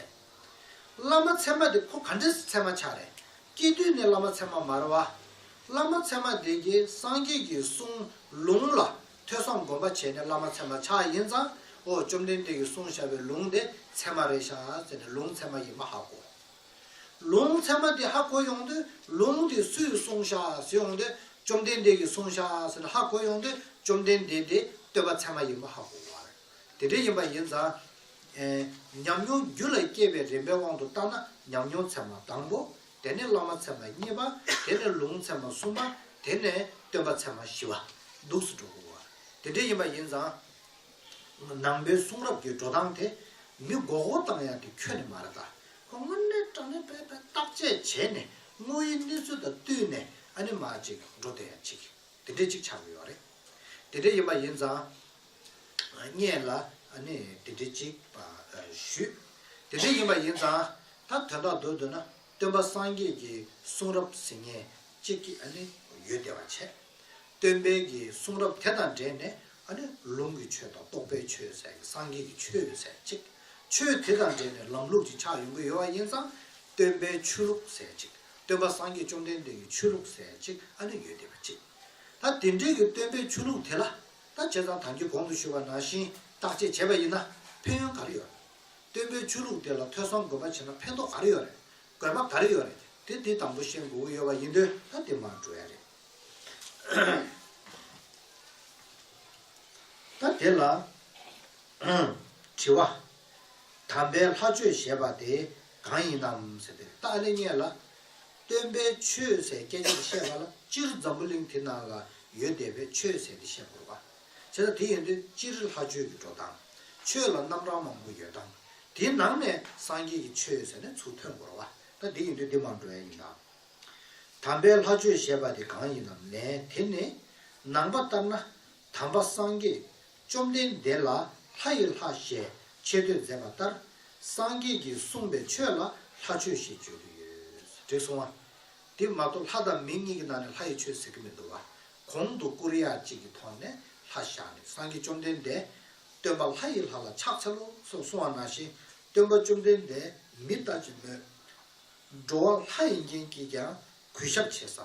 བླ་མ་ཚད་མ་དེ་ཁོ་ག་འདྲས་ཚད་མ་ཆགས་རེད་སྐྱེ་དུས་ནི་བླ་མ་ཚད་མ་མར་བ། བླ་མ་ཚད་མ་དེ་རྗེས་སངས་རྒྱས་ཀྱི་གསུང་ལུང་ལ་ཐོས་བསམ་སྒོམ་པ་བྱས་ནས་བླ་མ་ཚད་མ་ཆགས་ཡིན་ཙང་ཨོ་བཅོམ་ལྡན་འདས་ཀྱི་གསུང་བྱ་བའི་ལུང་དེ་ཚད་མ་རེད་ཤག་ཟེར་ནས་ལུང་ཚད་མ་ཡིན་མ་ཧ་གོ། ལུང་ཚད་མ་དེ་ཧ་གོ་ཡོང་དུས་ལུང་དེ་སུས་གསུང་ཤག་ཟེར་ཡོང་དུས་བཅོམ་ལྡན་འདས་ཀྱི་གསུང་ཤག་ཟེར་ནས་ཧ་གོ་ཡོང་དུས་བཅོམ་ལྡན་འདས་དེ་བསྟོད་པ་ཚད་མ་ཡིན་མ་ཧ་གོ་བར། དེ་འདྲའི་ཡིན་པ་ཡིན་ཙང། ཉམས་མྱོང་རྒྱུད་ལ་སྐྱེས་པའི་རིམ་པའི་དབང་དུ་བཏང་ན་ཉམས་མྱོང་ཚད་མ་དང་པོ། དེ་ནས་བླ་མ་ཚད་མ་གཉིས་པ། དེ་ནས་ལུང་ཚད་མ་གསུམ་པ། དེ་ནས་སྟོན་པ་ཚད་མ་བཞི་བ། འདུག་སུ་འགྲོ། དེ་འདྲའི་ཡིན་པ་ཡིན་ཙང། ནང་པའི་གསུང་རབ་ཀྱི་འགྲོ་སྟངས་དེ། མི་མགོ་བོ་བཏང་ཡང་དེ་ཁྱོན་ནས་མ་རེད་ད། སྔོན་གནས་སྐྲག་ནས་པས་པས་བརྟག་དཔྱད་བྱས་ནས་དངོས་ཡོད་གནས་ཚུལ་དང་བསྟུན་ནས་ཨ་ནི་མ་ཅིག་འགྲོ་དེ་ཡང་ཅིག། དེ་འདྲས་ཅིག་ཆགས་ཀྱི་ཡོད་རེད། དེ་འདྲས་ཡིན་པ་ཡིན་ཙང། བརྙེད་ལ་ནི་དེ་འདྲི་ཅིག་ཞུས། དེ་འདྲི་ཡིན་པ་ཡིན་ཙང་ད་དོན་དག་འདུག་འདོད་ན་སྟོན་པ་སངས་རྒྱས་ཀྱི་གསུང་རབ་ཟིན་ངེས་གཅིག་ཡོད་བདེ་བ་ཆེ། སྟོན་པའི་གི་གསུང་རབ་དེ་དང་འབྲེལ་ནས་ལུང་གི་ཆོས་དང་རྟོགས་པའི་ཆོས་ཟེར་གི་སངས་རྒྱས་ཀྱི་ཆོས་ཟེར་གཅིག་ཆོས་དེ་དང་འབྲེལ་ནས་ལམ་ལུགས་ཀྱི་ཆ་ཡོང་གི་ཡོད་བ་ཡིན་ཙང་སྟོན་པའི་ཆོས་ལུགས་ཟེར་གཅིག་སྟོན་པ་སངས་རྒྱས་བཅོམ་ལྡན་འདས་ཀྱི་ཆོས་ལུགས་ཟེར་གཅིག་ཡོད་བདེ་བ་ཆེ། ད་དེ་འདྲི་གི་སྟོན་པའི་ཆོས་ལུགས་དེ་ལ་ད་བྱས་ཙང་དང་གི་གོང་དུ་ཞུས་པ་ནང་བཞིན་བརྟག་དཔྱད་བྱས་པ་ཡིན་ན་ཕན་ཡོན་ག་རེ་ཡོད་རེད། སྟོན་པའི་ཆོས་ལུགས་དེ་ལ་ཐོས་བསམ་དགོས་པ་བྱས་ན་ཕན་ཐོག་ག་རེ་ཡོད་རེད། དགོས་པ་ག་རེ་ཡོད་རེད་དེ་དེ་དང་པོ་ཤེས་དགོས་ཀི་ཡོད་པ་ཡིན་དོན་ད་དེ་མ་འགྲོ་ཡ་རེད། ད་དེ་ལ་དྲི་བ། དམ་པའི་ལྷ་ཆོས་ཞེས་པ་དེ་གང་ཡིན་ནམ་ཟེར་ཏེ་ད་ཨ་ལེ་རྙེད་ལ། སྟོན་པས་ཆོས་ཟད་སྐད་ཆ་འདི་བཤད་པ་ལ་སྤྱིར་འཛམ་བུ་གླིང་དེ་ན་ལ་ཡོད་བསྡད་པས་ཆོས་ཟད་འདི་བཤད་དགོས་པ། བྱས་ཙང་དེ་ཡོད་དུས་སྤྱིར་ལྷ་ཆོས་ཀྱི་འགྲོ་སྟངས། ཆོས་ལ་རྣམ་གྲངས་མང་པོ་ཡོད་སྟངས། དེའི་ནང་ནས་སངས་རྒྱས་ཀྱི་ཆོས་ཟེར་ནས་ཚུར་ཐོན་དགོས་རོ། ད་དེ་ཡིན་དུས་འདི་མང་འགྲོ་ཡ་ཡིན་ད། དམ་པའི་ལྷ་ཆོས་ཞེས་པ་དེ་གང་ཡིན་ནམ་ལན་དེ་ནི། ནང་པ་ལྟར་ན། དམ་པ་སངས་རྒྱས་བཅོམ་ལྡན་འདས་ལ་ལྷ་ཡི་ལྷ་ཞེས་ཆེ་བསྟོད་མཛད་པ་ལྟར་སངས་རྒྱས་ཀྱིས་གསུངས་པའི་ཆོས་ལ་ལྷ་ཆོས་ཞེས་བརྗོད་ཀྱི་ཡོད། དྲེགས་གསུང་བ། དེ་མ་གཏོགས་ལྷ་དང་མི་གཉིས་ཀྱི་ནང་ནས་ལྷ་ཡི་ཆོས་ཟེར་གྱི་མི་འདུག་བ། གོང་དུ་ཀུ་རེ་ཡ་གཅིག་གིས་ཐོག་ནས་ལྷ་བཞག་ནས་སངས་རྒྱས་བཅོམ་ལྡན་འདས་སྟོན་པ་ལྷ་ཡི་ལྷ་ལ་ཕྱག་འཚལ་ལོ་སོགས་གསུང་བ་ནང་བཞིན་སྟོན་པ་བཅོམ་ལྡན་འདས་མི་ལྟ་ཅི་སྨོས། འགྲོ་བ་ལྷ་ཡིན་མཁན་གྱིས་ཀྱང་གུས་ཞབས་བྱེད་ས་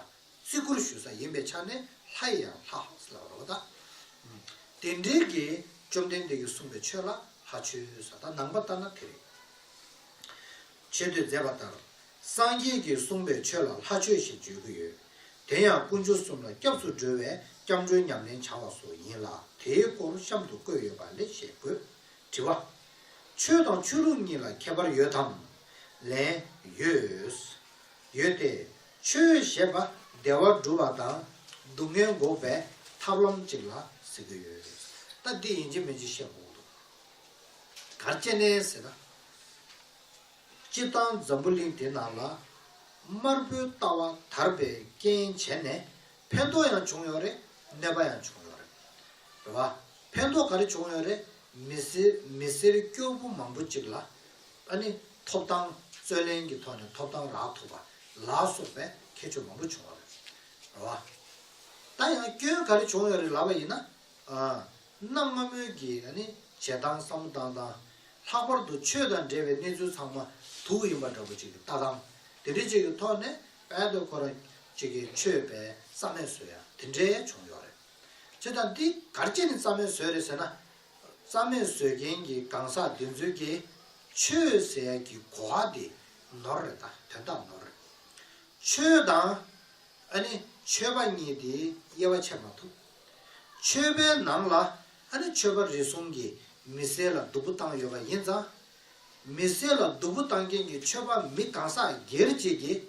བརྩི་བཀུར་ཞུ་ས་ཡིན་པའི་ཆ་ནས་ལྷ་ཡི་ཡང་ལྷ། དེ་འབྲེལ་གྱི་བཅོམ་ལྡན་འདས་ཀྱིས་གསུངས་པའི་ཆོས་ལ་ལྷ་ཆོས་ས་དང་ནང་པ་ལྟར་ན་དེ་རེད། ཆེ་བསྟོད་མཛད་པ་ལྟར་སངས་རྒྱས་ཀྱིས་གསུངས་པའི་ཆོས་ལ་ལྷ་ཆོས་ཞེས་བརྗོད་ཀྱི་ཡོད། དེ་ཡང་དཀོན་མཆོག་གསུམ་ལ་སྐྱབས་སུ་འགྲོ་བའི་སྐྱབས་འགྲོའི་ཉམས་ལེན་བྱ་བ་སོགས་ཡིན་ལ་དེའི་སྐོར་གཤམ་དུ་བཀོད་ཡོད་པ་ལས་ཤེས་དགོས། དྲི་བ། ཆོས་དང་ཆོས་ལུགས་གཉིས་ལ་ཁྱད་པར་ཡོད་དམ། ལན། ཡོད། ཡོད་དེ། ཆོས་ཞེས་པ་བདེ་བ་སྒྲུབ་པ་དང་སྡུག་བསྔལ་འགོག་པའི་ཐབས་ལམ་གཅིག་ལ་ཟེར་གྱི་ཡོད། ད་འདི་ཡིན་གཅིག་མིན་གཅིག་བཤད་དགོས་འདུག་གར་སྐྱེ་གནས་ཟེར་ན། སྤྱིར་བཏང་འཛམ་བུ་གླིང་འདི་ན་ལ་དམར་པོའི་ལྟ་བ་དར་པའི་རྐྱེན་བྱས་ནས་ཕན་ཐོགས་ཡང་བྱུང་ཡོད་རེད་ནད་པ་ཡང་བྱུང་ཡོད་རེད། རེད་བ། ཕན་ཐོགས་ག་རེ་བྱུང་ཡོད་རེད་མི་སེར་སྐྱོ་པོ་མང་པོ་ཅིག་ལ། ཨ་ནི་ཐོབ་ཐང་རྩོད་ལེན་གྱི་ཐོག་ནས་ཐོབ་ཐང་རག་ཐུབ་པ་ལ་སོགས་པའི་ཁྱད་ཆོས་མང་པོ་བྱུང་བ་རེད། རེད་བ། ད་ཡང་སྐྱོན་ག་རེ་བྱུང་ཡོད་རེད་ལབ་པ་ཡིན་ན། གནམ་སྔ་མོའི་གི་ཨ་ནི་བྱེད་སྟངས་བསམ་བློ་བཏང་སྟངས། ལྷག་པར་དུ་ཆོས་དང་འབྲེལ་བའི་གནས་ཚུལ་ཚང་མ་དུག་ཡིན་པ་འདྲ་པོ་ཅིག་གི་ལྟ་སྟངས་དེ་འདྲའི་ཅིག་གི་ཐོག་ནས་དཔལ་དུ་ཁོ་རང་ཅིག་གི་ཆོས་པའི་རྩ་མེད་བཟོས་ཡ་དེ་འདྲའི་བྱུང་ཡོད་རེད། ཚེ་ད་འདི་གར་ཅི་ནས་རྩ་མེད་བཟོས་རེད་ཟེར་ན། རྩ་མེད་བཟོད་མཁན་གྱི་གང་ཟག་འདི་ཚོའི་གི་ཆོས་ཟད་ཀྱི་གོ་བ་དེ་ནོར་རེད་ད་དོན་དག་ནོར་རེད། ཆོས་དང། ཨ་ནི་ཆོས་པ་གཉིས་དེའི་དབྱེ་བ་ཕྱེ་མ་ཐུབ། ཆོས་པའི་ནང་ལ་ཨ་ནི་ཆོས་པ་རེ་ཟུང་གིས་མི་སེར་ལ་སྡུག་པོ་བཏང་ཡོད་པ་ཡིན་ཙང། མི་སེར་ལ་སྡུག་པོ་བཏང་མཁན་གྱི་ཆོས་པ་མི་གང་ཟག་སྒེར་བཅས་ཀྱི་བྱེད་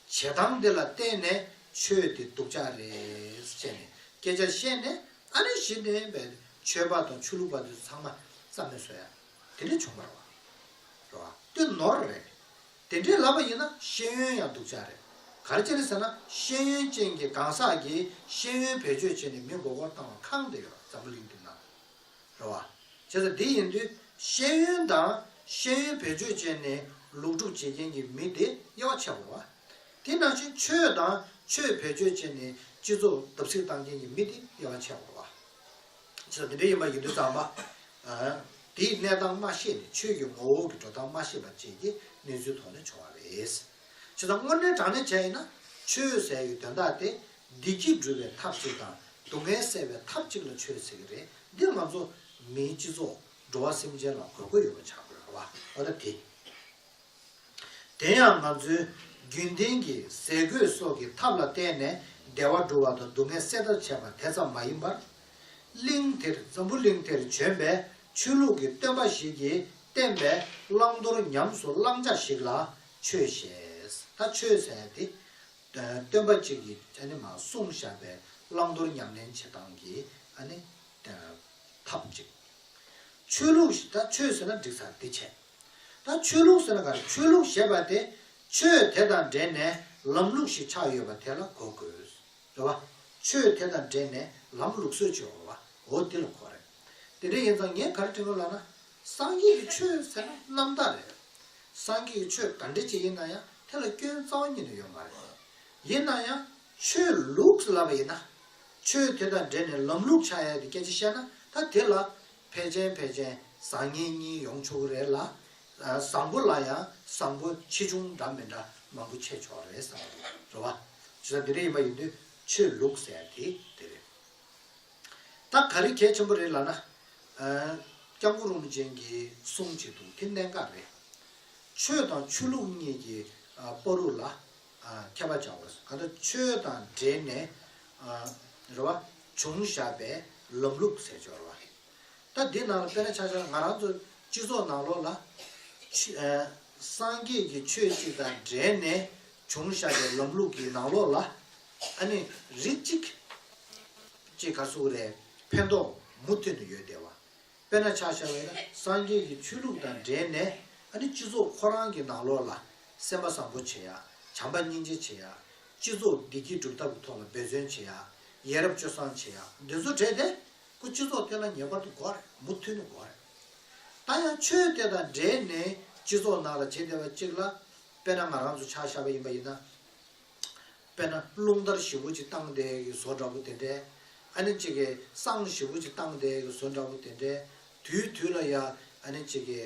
སྟངས་དེ་ལ་བརྟེན་ནས་ཆོས་དེ་སྡུག་ཅག་རེད་ཅེས་ནས་སྐད་ཆ་བཤད་ནས་ཨ་ནི་གཞི་འདོན་པའི་མཆོད་པ་དང་ཆོས་ལུགས་པ་ཚོས་ཚང་མ་བསམ་མེད་བཟོ་ཡ། དེ་འདྲས་བྱུང་མར་བ། རེད་བ། དེ་ནོར་རེད། དེ་འདྲས་ལབ་པ་ཡིན་ན་ཤེས་ཡོན་ཡང་སྡུག་ཅག་རེད། ག་རེ་བྱས་རེད་ཟེར་ན་ཤེས་ཡོན་ཅན་གྱི་གང་ཟག་གིས་ཤེས་ཡོན་བེད་སྤྱོད་བྱས་ནས་མི་མགོ་སྐོར་བཏང་བ་ཁང་དེ་ཡོད་པ་འཛམ་བུ་གླིང་དུ་མང། རེད་བ། བྱས་ཙང་དེ་ཡིན་དུས་ཤེས་ཡོན་དང་ཤེས་ཡོན་བེད་སྤྱོད་བྱས་ནས་ལུགས་སྒྲུབ་བྱེད་མཁན་གྱི་མི་དེ་དབྱེ་བ་ཕྱེ་དགོས་བ། དེས་ན་ཆོས་ཆོས་དང་ཆོས་བེད་སྤྱོད་བྱས་ནས་སྤྱི་ཚོགས་བརྡབ་གསིག་བཏང་མཁན་གྱི་མི་དེ་དབྱེ་བ་ཕྱེ་དགོས། ཅི་ལྟར་འདི་འདྲ་ཡིན་པ་ཡིན་དུས་ཙང་མ། དེའི་གནས་སྟངས་མ་ཤེས་ནས་ཆོས་ཀྱི་ངོ་བོ་གི་འགྲོ་སྟངས་མ་ཤེས་པ་བཅས་ཀྱི་གནས་ཚུལ་ཐོག་ནས་བྱུང་བ་རེད། ཅི་ཙང་དངོས་གནས་དྲང་གནས་བྱས་ཡིན་ན་ཆོས་ཟེར་ཡི་དོན་དག་དེ་བདེ་སྐྱིད་སྒྲུབ་པའི་ཐབས་ཅིག་དང་སྡུག་བསྔལ་སེལ་བའི་ཐབས་ཅིག་ལ་ཆོས་ཟེར་གྱི་རེད་འདི་ང་ཚོ་མིའི་སྤྱི་ཚོགས་འགྲོ་བ་སེམས་ཅན་ལ་གོ་དགོས་ཡོད་པ་ཆགས་དགོས། འོ་ན་དེ། དེ་ཡང་ང་ཚོའི་རྒྱུན་ལྡན་གྱི་ཟས་གོས་སོགས་ཀྱི་ཐབས་ལ་བརྟེན་ནས་བདེ་བ་བསྒྲུབ་བ་དང་སྡུག་བསྔལ་སེལ་ཐབས་བྱས་པ་དེ་ཙམ་མ་ཡིན་པར། གླིང་དེར་འཛམ་བུ་གླིང་དེར་བྱོན་པའི་ཆོས་ལུགས་ཀྱི་སྟོན་པ་ཞིག་གིས་བསྟན་པའི་བླང་དོར་ཉམས་སུ་བླང་བྱ་ཞིག་ལ་ཆོས་ཞེས་ད་ཆོས་ཟེར་ཏེ། སྟོན་པ་གཅིག་གིས་ཨ་ནི་མ་གསུངས་བཞག་པའི་བླང་དོར་ཉམས་ལེན་བྱེད་སྟངས་ཀྱི་ཨ་ནི་ཐབས་ཅིག། ཆོས་ལུགས་ཞེས་ད་ཆོས་ཟེར་ན་འགྲིག་ས་དེ་བྱས། ད་ཆོས་ལུགས་ཟེར་གར་ཆོས་ལུགས་ཞེས་པ་དེ་ཆོས་དེ་དང་འབྲེལ་ནས་ལམ་ལུགས་ཤིག་ཆགས་ཡོད་པ་དེ་ལ་གོ་དགོས། རེད་བ། ཆོས་དེ་དང་འབྲེལ་ནས་ལམ་ལུགས་སྲོལ་ཆོས་འོ་བ་འོ་དེ་ལ་གོ་རེད། དེ་འདྲ་ཡིན་ཙང་ངས་གར་དྲི་ངོས་ལ་ན། སངས་རྒྱས་ཀྱི་ཆོས་ཟེར་ན་རྣམ་དག་རེད། སངས་རྒྱས་ཀྱི་ཆོས་ག་འདྲི་ཅི་ཡིན་ན་ཡང་དེ་ལ་སྐྱོན་རྩ་བ་ཉིད་ནས་ཡོད་མ་རེད། ཡིན་ན་ཡང་ཆོས་ལུགས་ལབ་པ་ཡིན་ན། ཆོས་དེ་དང་འབྲེལ་ནས་ལམ་ལུགས་ཆགས་ཡ་དེ་སྐད་ཅིག་བཤད་ན་ད་དེ་ལ། ཕལ་ཆེན་ཕལ་ཆེན་བཟང་ངན་གཉིས་ཡོང་ཆོག་གི་རེད་ལ། བཟང་པོ་ལ་ཡང་བཟང་པོ་ཆེ་ཆུང་འདྲ་མི་འདྲ་མང་པོ་ཆད་ཆོག་རེད་བསམ་གི་འདུག་རེད་བ། ཇི་ལྟར་འདི་རིགས་ཡིན་པ་ཡིན་དུས་ཆོས་ལུགས་ཟེར་དེ་དེ་རེད། ད་ག་རེ་གལ་ཆེན་པོ་རེད་ལ་ན། སྐྱབས་མགོན་རིན་པོ་ཆེན་གྱིས་གསུངས་གཅིག་འདུག་དེ་གནད་འགག་རེད། ཆོས་དང་ཆོས་ལུགས་གཉིས་ཀྱི་པོ་རུ་ལ་མཁས་པར་བྱའོ། གང་དུ་ཆོས་དང་འབྲེལ་ནས། རེ་བ་འབྱུང་བཞག་པས་ལམ་ལུགས་ཟས་སྦྱོར་བ། ད་འདི་ནང་ལ་དཔེར་ན་ཆ་ཆ་ང་རང་ཚོ་སྤྱི་ཚོགས་ནང་ལོགས་ལ། སངས་རྒྱས་ཀྱི་ཆོས་གཅིག་དང་འབྲེལ་ནས་འབྱུང་བཞག་པའི་ལམ་ལུགས་ཀྱི་ནང་ལོགས་ལ། ཨ་ནི་རིགས་གཅིག། ཅེས་ག་ཟུག་རེ་ཕན་ཐོགས་མུ་མཐུད་ནས་ཡོད་བསྡད་བ། དཔེར་ན་ཕྱག་བྱ་བས་ན་སངས་རྒྱས་ཀྱི་ཆོས་ལུགས་དང་འབྲེལ་ནས་ཨ་ནི་སྤྱི་ཚོགས་ཁོ་རང་གི་ནང་ལོགས་ལ་སེམས་པ་བཟང་པོ་བྱེད་ཡ། བྱམས་པ་སྙིང་རྗེ་བྱེད་ཡ། སྤྱི་ཚོགས་བདེ་སྐྱིད་སྒྲུབ་ཐབས་ཀྱི་ཐོག་ལ་འབད་བརྩོན་བྱེད་ཡ། ཡས་རབས་སྤྱོད་བཟང་བྱེད་ཡ་འདི་ཚོ་བྲལ་ཏེ། སྐུ་སྤྱི་ཚོགས་སྟེང་ན་ངེས་པར་དུ་འགོ་རེད་མུ་མཐུད་ནས་འགོ་རེད། ད་ཡང་ཆོས་དེ་དང་འབྲེལ་ནས་སྤྱི་ཚོགས་ནང་ལ་བྱེད་བདེ་བ་གཅིག་ལ། དཔེར་ན་ང་རང་ཚོ་ཕྱག་བྱ་བ་ཡིན་པ་ཡིན་ན། དཔེར་ན་རླུང་ལྟར་བཞི་པོ་གཅིག་བཏང་དེ་ཡི་བཟོ་འདྲ་པོ་དེ་འདྲས། ཨ་ནི་གཅིག་གི་སྲང་བཞི་པོ་གཅིག་བཏང་དེ་ཡི་བཟོ་འདྲ་པོ་དེ་འདྲས། དུས་དུས་ལ་ཡང་ཨ་ནི་གཅིག་གི།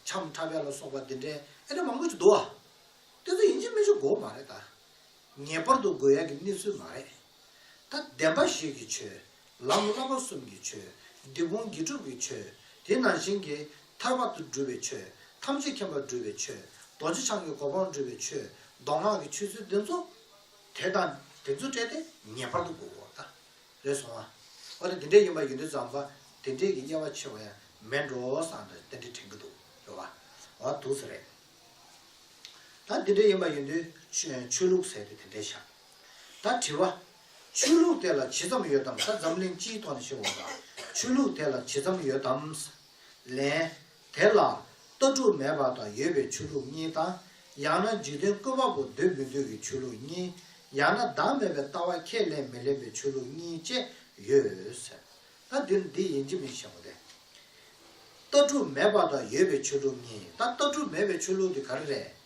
ཁྱམས་ཁྲ་བས་ལ་སོགས་པ་འདི་འདྲས་ཨེ་རེད་མང་པོ་ཅིག་འདུག་ཨ། དེ་ཚོ་ཡིན་གཅིག་མིན་གཅིག་འགོག་མ་རེད་ད། ངེས་པར་དུ་དགོས་ཡག་གི་གནས་ཚུལ་མ་རེད། ད་བདེན་པ་བཞི་གི་ཆོས། ལམ་བསླབ་པ་གསུམ་གྱི་ཆོས། འདི་ཀུན་དགེ་སྒྲུབ་ཀྱི་ཆོས། དེ་ནང་བཞིན་གྱི། ཐར་པ་དུ་སྒྲུབ་པའི་ཆོས། ཐམས་ཅད་མཁྱེན་པ་སྒྲུབ་པའི་ཆོས། རྡོ་རྗེ་འཆང་གི་གོ་འཕང་སྒྲུབ་པའི་ཆོས། མདོ་སྔགས་ཀྱི་ཆོས་ཚུལ་འདི་ཚོ། དེ་དང་དེ་ཚོ་སྤྲད་དེ་ངེས་པར་དུ་དགོས་གོ། རེ་ཟུང་བ། འོ་ན་དེ་འདྲས་ཡིན་པ་ཡོད་དུས་ཙམ་པ་དེ་འདྲས་ཀྱི་དབྱེ་བ་ཕྱེ་བ་ཡང་མེད་འགྲོ་བསམ་ནས་དེ་འདྲས་དྲན་གྱི་འདུག་རེད་བ། འོ་ན་དུས་སུ་རེད། ད་དེ་འདྲས་ཡིན་པ་ཡིན་དུས་ཆོས་ལུགས་ཟེར་དུས་དེ་འདྲས་བཞག། ད་དྲི་བ། ཆོས་ལུགས་དེ་ལ་ཇི་ཙམ་ཡོད་དམ་ད་འཛམ་གླིང་སྤྱིའི་ཐོག་ནས་ཤེས་འོང་དང་ཆོས་ལུགས་དེ་ལ་ཇི་ཙམ་ཡོད་དམ། ལན། དེ་ལ། ལྟ་གྲུབ་མེད་པ་དང་ཡོད་པའི་ཆོས་ལུགས་གཉིས་དང། ཡང་ན་འཇིག་རྟེན་ཀུན་པ་པོ་འདུས་མི་འདུས་ཀྱི་ཆོས་ལུགས་གཉིས། ཡང་ན་བདག་མེད་པའི་ལྟ་བ་ཁས་ལེན་མི་ལེན་པའི་ཆོས་ལུགས་གཉིས་བཅས་ཡོད། ད་འདིར་འདི་ཡིན་གྱི་མིན་ཤེས་པ་དེ། ལྟ་གྲུབ་མེད་པ་དང་ཡོད་པའི་ཆོས་ལུགས་གཉིས་ད་ལྟ་གྲུབ་མེད་པའི་ཆོས་ལུགས་དེ་ག་རེ་རེད།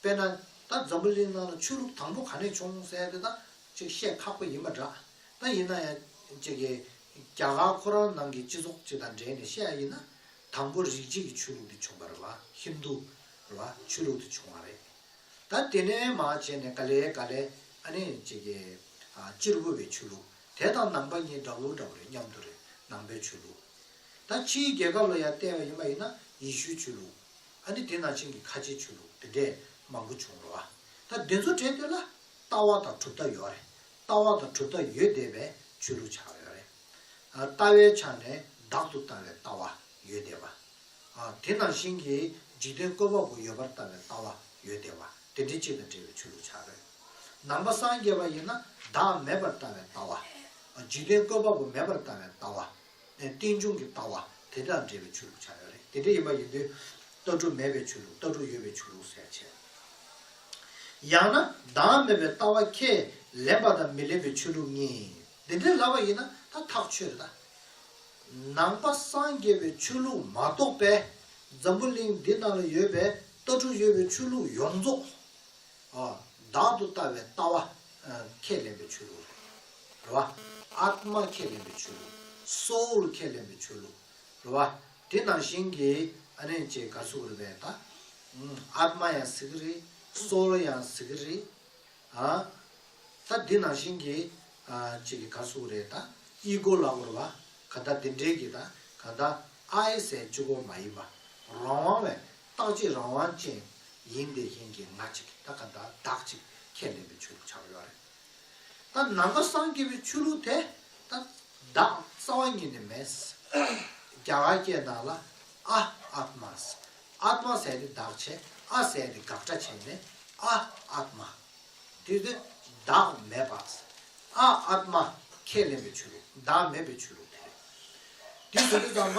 དཔེར་ན། ད་འཛམ་བུ་གླིང་ནང་ན་ཆོས་ལུགས་དང་པོ་ག་ནས་བྱུང་གསལ་དེ་དག་ཅིག་བཤད་ཁག་པོ་ཡིན་པ་འདྲ། ད་ཡིན་ན་ཡང། ཅེ་ཀེ། རྒྱ་གར་ཁོ་རང་ནང་གི་སྤྱི་ཚོགས་ཅིག་དང་འབྲེལ་ནས་བཤད་ཡ་ཡིན་ན། དང་པོ་རིག་བྱེད་ཀྱི་ཆོས་ལུགས་འདི་བྱུང་བ་རེད་བ། Hindu། རེད་བ། ཆོས་ལུགས་འདི་བྱུང་བ་རེད། ད་དེ་ནས་མ་བྱས་ནས་ག་ལེ་ག་ལེ། ཨ་ནི། ཅེ་ཀེ། སྤྱིར་བོད་པའི་ཆོས་ལུགས་དེ་དང་ནང་པ་གཉིས་འདྲ་བོ་འདྲ་བོ་རེད་མཉམ་དུ་རེད་ནང་པའི་ཆོས་ལུགས། ད་ཕྱིའི་རྒྱལ་ཁབ་ལ་ཡང་བལྟས་པ་ཡིན་པ་ཡིན་ན་ཡེ་ཤུའི་ཆོས་ལུགས། ཨ་ནི་དེ་ན་ཆེན་གྱི་ཁ་ཆེའི་ཆུ་ལུག་དེ་འདྲས་མང་པོ་བྱུང་རོ། ད་དེ་ཚོ་དྲན་ཐོས་ལ། ལྟ་བ་དང་གྲུབ་མཐའ་ཡོད་རེད། ལྟ་བ་དང་གྲུབ་མཐའ་ཡོད་བསྡད་པས་ཆོས་ལུགས་ཆགས་ཡོད་རེད། ལྟ་བའི་ཆ་ནས་བདག་ཏུ་ལྟ་བའི་ལྟ་བ་ཡོད་བསྡད་པ། དེ་ནང་བཞིན་གྱི་འཇིག་རྟེན་བཀོད་པ་པོ་ཡོད་པར་ལྟ་བའི་ལྟ་བ་ཡོད་བསྡད་པ་དེ་འདྲས་གཅིག་དང་འདྲེས་པའི་ཆོས་ལུགས་ཆགས་རེད། ནང་པ་སངས་རྒྱས་པ་ཡིན་ན་བདག་མེད་པར་ལྟ་བའི་ལྟ་བ། འཇིག་རྟེན་བཀོད་པ་པོ་མེད་པར་ལྟ་བའི་ལྟ་བ་རྟེན་འབྱུང་གི་ལྟ་བ་དེ་དང་འབྲེལ་བའི་ཆོས་ལུགས་ཆགས་ཡོད་རེད། དེ་འདྲ་ཡིན་པ་ཡིན་དུས། ལྟ་གྲུབ་མེད་པའི་ཆོས་ལུགས་ལྟ་གྲུབ་ཡོད་པའི་ཆོས་ལུགས་ཟེར་ཆེ། ཡང་ན་བདག་མེད་པའི་ལྟ་བ་ཁས་ལེན་པ་དང་མི་ལེན་པའི་ཆོས་ལུགས་གཉིས། དེ་འདྲའི་ལབ་པ་ཡིན་ན་ད་ཐག་ཆོད་རེད་ད། ནང་པ་སངས་རྒྱས་པའི་ཆོས་ལུགས་མ་གཏོགས་པའི། འཛམ་བུ་གླིང་འདི་ནང་ལ་ཡོད་པའི་ལྟ་གྲུབ་ཡོད་པའི་ཆོས་ལུགས་ཡོངས་རྫོགས། བདག་ཏུ་ལྟ་བའི་ལྟ་བ། ཁས་ལེན་པའི་ཆོས་ལུགས། རེད་བ། ཨཱཏྨ་ཁས་ལེན་པའི་ཆོས་ལུགས། Soul ཁས་ལེན་པའི་ཆོས་ལུགས། རེད་བ། དེ་ནང་བཞིན་གྱི། ཨ་ནེ་ཅེས་གར་སུག་རེད་པས་ད། ཨཱཏྨ་ཡང་ཟེར་གྱི་རེད། Soul ཡང་ཟེར་གྱི་རེད། ད་དེ་ནང་བཞིན་གྱི། ཅེས་ཀྱི་གར་སུག་རེད་ད། Ego ལགས་རེད་བ། ག་ད་དེ་འདྲའི་གྱི་ད། ག་ད་ཨཱའི་སའི་སྤྱི་གོ་མ་ཡིན་པ། རང་དབང་བའི། རྟག་གཅིག་རང་དབང་ཅན་ཡིན་དེ་བཞིན་གྱི་ང་གཅིག་གི་ད་ག་ད་བདག་གཅིག་ཁས་ལེན་པའི་ཆོས་ལུགས་ཆགས་ཡོད་རེད། ད་ནང་པ་སངས་རྒྱས་པའི་ཆོས་ལུགས་དེ་ད་བདག་རྩ་བ་ཉིད་ནས་མེད། རྒྱ་གར་སྐད་ནང་ལ་ཨ Atmas Atma ཟས་དེ་བདག་བྱས་ཨ་ཟས་དེ་དགག་སྒྲ་བྱས་ནས་ཨ Atma དེ་དེ་བདག་མེད་པ་ཨ Atma ཁས་ལེན་པའི་ཆོས་ལུགས་བདག་མེད་པའི་ཆོས་ལུགས་དེ་རེད། དེ་དེ་དེ་ཙམ་པ་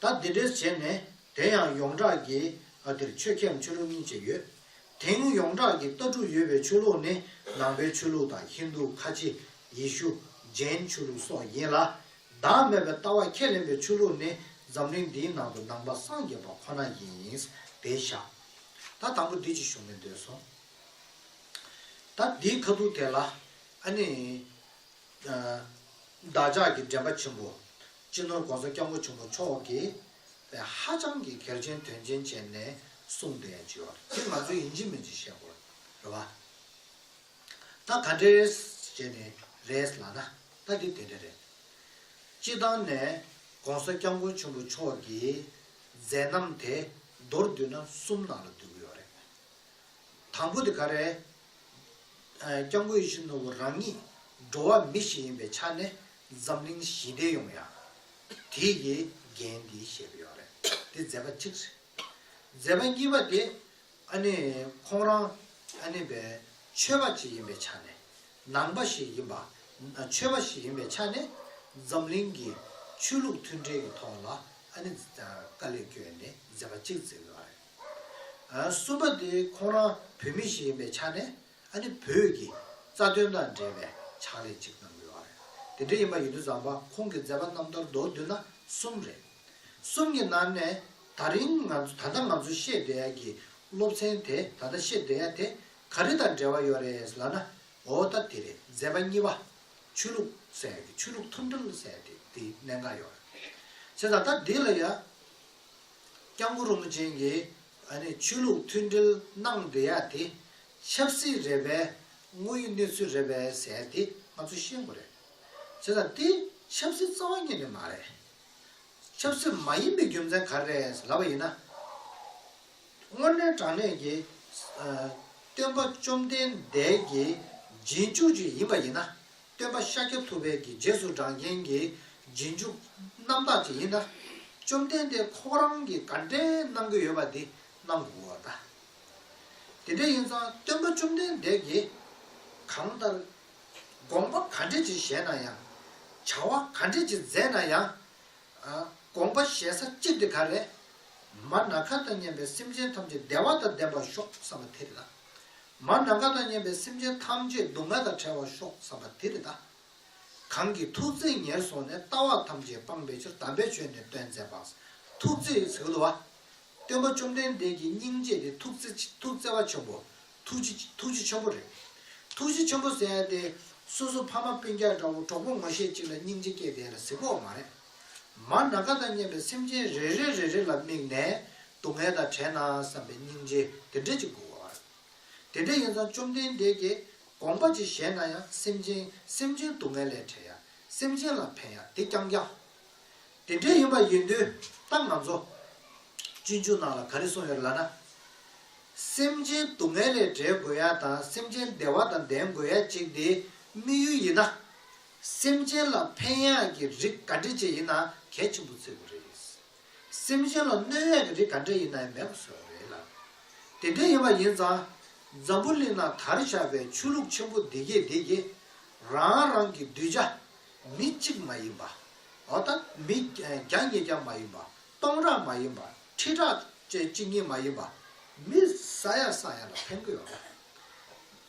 ད་འདི་འདྲའི་བྱས་ནས་དེ་ཡང་ཡོངས་གྲགས་ཀྱི་ཨ་དེར་ཆོས་ཁྱེམས་ཆོས་ལུགས་གཉིས་བཅས་ཡོད། དེང་ཡོངས་གྲགས་ཀྱི་ལྟ་གྲུབ་ཡོད་པའི་ཆོས་ལུགས་ནི་ནང་པའི་ཆོས་ལུགས་དང་ཧིན་རྡུ་ཁ་ཆེ་ཡེ་ཤུ་ཇེན་ཆོས་ལུགས་སོགས་ཡིན་ལ། བདག་མེད་པའི་ལྟ་བ་ཁས་ལེན་པའི་ཆོས་ལུགས་ནི་འཛམ་གླིང་འདིའི་ནང་དུ་ནང་པ་སངས་རྒྱས་པ་ཁོ་ན་ཡིན། དེ་བཞག་ད་དང་པོ་འདི་ཅིག་ཞུ་མི་འདོད་སོང། ད་འདིའི་ཁ་ཐུག་དེ་ལ་ཨ་ནི། བདག་ཅག་གི་འདྲེན་པ་ཆེན་པོ། སྤྱི་ནོར་དགོང་ས་སྐྱབས་མགོ་ཆུང་པོ་མཆོག་གིས་པའི་ཧ་ཅང་གི་གལ་ཆེན་དོན་ཆེན་བྱས་ནས་གསུངས་པའི་བརྗོད་བ་དེ་ང་ཚོས་ཡིན་གཅིག་མིན་གཅིག་བཤད་དགོས་རེད་བ། ད་ག་འདྲའི་བྱས་ནས་རེད་ལགས་ན་ད་དེ་དེ་འདྲ་རེད། སྤྱི་བཏང་ནས་དགོང་ས་སྐྱབས་མགོ་ཆུང་པོ་མཆོག་གིས་མཛད་རྣམ་དེ་མདོར་བསྡུས་ན་གསུམ་ནང་ལ་བསྡུ་གི་ཡོད་རེད། དང་པོ་དེ་ག་རེད། སྐྱབས་མགོ་ཡེ་ཤུ་ནོར་བུ་རང་ཉིད་འགྲོ་བ་མི་ཞིག་ཡིན་པའི་ཆ་ནས་འཛམ་གླིང་ཞི་བདེ་ཡོང་ཡ། དེ་ཡི་འགན་འདི་བཞེས་པ་ཡོད་རེད། དེ་མཛད་པ་གཅིག་རེད། མཛད་པ་གཉིས་པ་དེ། ཨ་ནི་ཁོང་རང་ཨ་ནི་པའི་ཆོས་པ་གཅིག་ཡིན་པའི་ཆ་ནས། ནང་པ་ཞིག་ཡིན་པ། ཆོས་པ་ཞིག་ཡིན་པའི་ཆ་ནས། འཛམ་གླིང་གི་ཆོས་ལུགས་མཐུན་འབྲེལ་གྱི་ཐོག་ལ་ཨ་ནི་དཀའ་ལས་བསྐྱོན་ནས་མཛད་པ་གཅིག་མཛད་ཡོད་རེད། གསུམ་པ་དེ་ཁོང་རང་བོད་མི་ཞིག་ཡིན་པའི་ཆ་ནས། ཨ་ནི་བོད་ཀྱི་རྩ་དོན་དང་འབྲེལ་བའི་ཕྱག་ལས་གཅིག་གནང་དགོས་པ་རེད། དེ་འདྲ་ཡིན་པ་ཡིན་དུས་བཟང་པ་ཁོང་གི་མཛད་པ་རྣམ་ཐར་མདོར་བསྡུས་ན་གསུམ་རེད། གསུམ་གྱི་ནང་ནས་ད་རིང་ང་ཚོ་ད་ལྟ་ང་ཚོ་ཤེས་བསྡད་ཡ་གྱི་སློབ་ཚན་དེ་ད་ལྟ་ཤེས་བསྡད་ཡ་དེ་ག་རེ་དང་འབྲེལ་བ་ཡོད་རེད་ལབ་ན་འོ་ད་དེ་རེད་མཛད་པ་གཉིས་པ་ཆོས་ལུགས་ཟེར་ཡ་གྱི་ཆོས་ལུགས་ཐུམ་སྒྲིལ་ཟེར་ཡ་དེ་དེ་གནད་འགག་ཡོད་རེད། བྱས་ཙང་ད་འདི་ལ་ཡ་སྐྱབས་མགོན་རིན་པོ་ཆེན་གྱི་ཨ་རིའི་ཆོས་ལུགས་མཐུན་སྒྲིལ་ནང་འབྲེལ་ཡག་དེ་ཆབ་སྲིད་རེད་པས་དངོས་ཡོད་གནས་ཚུལ་རེད་པས་ཟེར་དེ་ང་ཚོས་ཤེས་དགོས་རེད། བྱས་ཙང་དེ་ཆབ་སྲིད་རྩ་བ་ཉིད་ནས་མ་རེད། ཆབ་སྲིད་མ་ཡིན་པའི་རྒྱུ་མཚན་ག་རེ་རེད་ལབ་པ་ཡིན་ན། དངོས་གནས་དྲང་གནས་ཀྱི་སྟོན་པ་བཅོམ་ལྡན་འདས་ཀྱི་རྗེས་འཇུག་ཅིག་ཡིན་པ་ཡིན་ན་སྟོན་པ་ཤཱཀྱ་ཐུབ་དཔལ་གྱི་རྗེས་སུ་འབྲང་རྐྱེན་གྱི་རྗེས་འཇུག་རྣམ་དག་ཅིག་ཡིན་ན། བཅོམ་ལྡན་འདས་ཁོང་རང་གིས་ག་འདྲའི་གནང་གི་ཡོད་པ་འདི་སྣང་གི་འོ་ད། དེ་འདྲ་ཡིན་ཙང་སྟོན་པ་བཅོམ་ལྡན་འདས་ཀྱིས་གང་ལྟར། དགོངས་པ་ག་འདྲ་ཅིག་བཞེས་ན་ཡང། བྱ་བ་ག་འདྲ་ཅིག་མཛད་ན་ཡང། དགོངས་པ་བཞེས་ས་གཅིག་དེ་ག་རེད། མར་ནག་མཁའ་དང་མཉམ་པའི་སེམས་ཅན་ཐམས་ཅད་བདེ་བ་དང་ལྡན་པར་ཤོག་བསམ་པ་དེ་རེད་ལ། མར་ནམ་མཁའ་དང་མཉམ་པའི་སེམས་ཅན་ཐམས་ཅད་སྡུག་བསྔལ་དང་བྲལ་བར་ཤོག་བསམ་པ་དེ་རེད་ད། གང་གིས་ཐུགས་བརྩེ་ཉེར་བཟུང་ནས་ལྟ་བ་ཐམས་ཅད་སྤངས་པའི་ཕྱིར་དམ་པའི་ཆོས་ནི་སྟོན་མཛད་པ། ཐུགས་བརྩེ་ཡི་ཚིག་ལུ་བ། སྟོན་པ་བཅོམ་ལྡན་འདས་ཀྱི་སྙིང་རྗེ་དེ་ཐུགས་བརྩེ་བ་ཆེན་པོ། ཐུགས་རྗེ་ཆེན་པོ་རེད། ཐུགས་རྗེ་ཆེན་པོ་ཟེར་ཏེ། སོ་སོ་ཕ་མ་སྤུན་རྒྱག་འདྲ་བོ་གྲོགས་པོ་ངོ་ཤེས་གཅིག་ལ་སྙིང་རྗེ་སྐྱེས་དེ་ལ་གཟིགས་པོ་འོ་མ་རེད། མར་ནག་དང་སྙེམས་པའི་སེམས་ཅན་རེ་རེ་རེ་རེ་ལ་དམིགས་ནས་སྡུག་བསྔལ་དང་བྲལ་ན་བསམ་པའི་སྙིང་རྗེ་དེ་འདྲས་ཅིག་དགོས། དེ་འདྲས་ཡིན་ཙང་བཅོམ་ལྡན་འདས་ཀྱིས་དགོངས་པ་ཅི་བཞེད་ན་ཡང་སེམས་ཅན་སེམས་ཅན་སྡུག་བསྔལ་ལས་བྲལ་ཡང་སེམས་ཅན་ལ་ཕན་ཡང་དེ་རྐྱང་རྐྱང། དེ་འདྲས་ཡིན་པ་ཡིན་དུས་ད་ང་ཚོ་སྤྱོད་འཇུག་ནང་ལ་ག་རེ་གསུངས་ཡོད་ལ་ན། སེམས་ཅན་སྡུག་བསྔལ་ལས་བྲལ་དགོས་ཡ་དང་སེམས་ཅན་བདེ་བ་དང་ལྡན་དགོས་ཡ་གཅིག་དེའི་དམིགས་ཡུལ་ཡིན་ན། སེམས་ཅན་ལ་ཕན་ཡག་གི་རིགས་ག་འདྲི་བྱེད་ཡིན་ན་གལ་ཆེན་པོ་བརྩི་དགོས་རེད། སེམས་ཅན་ལ་གནོད་ཡག་གི་རིགས་ག་འདྲི་ཡིན་ན་ཡང་མེད་པ་བཟོ་རེད་ལ། དེ་འདྲ་ཡིན་པ་ཡིན་ཙང། འཛམ་བུ་གླིང་ན་དར་ཆགས་པའི་ཆོས་ལུགས་ཆེན་པོ་འདི་གས་འདི་གས། རང་རང་གི་གདུལ་བྱ། མི་གཅིག་མ་ཡིན་པ། འོ་ད་མི་བརྒྱ་ཉིས་བརྒྱ་མ་ཡིན་པ། སྟོང་ཕྲག་མ་ཡིན་པ། ཁྲི་ཕྲག་བཅས་གཅིག་གཉིས་མ་ཡིན་པ། མི་ས་ཡ་ས་ཡ་ལ་ཕན་གི་ཡོད་རེད།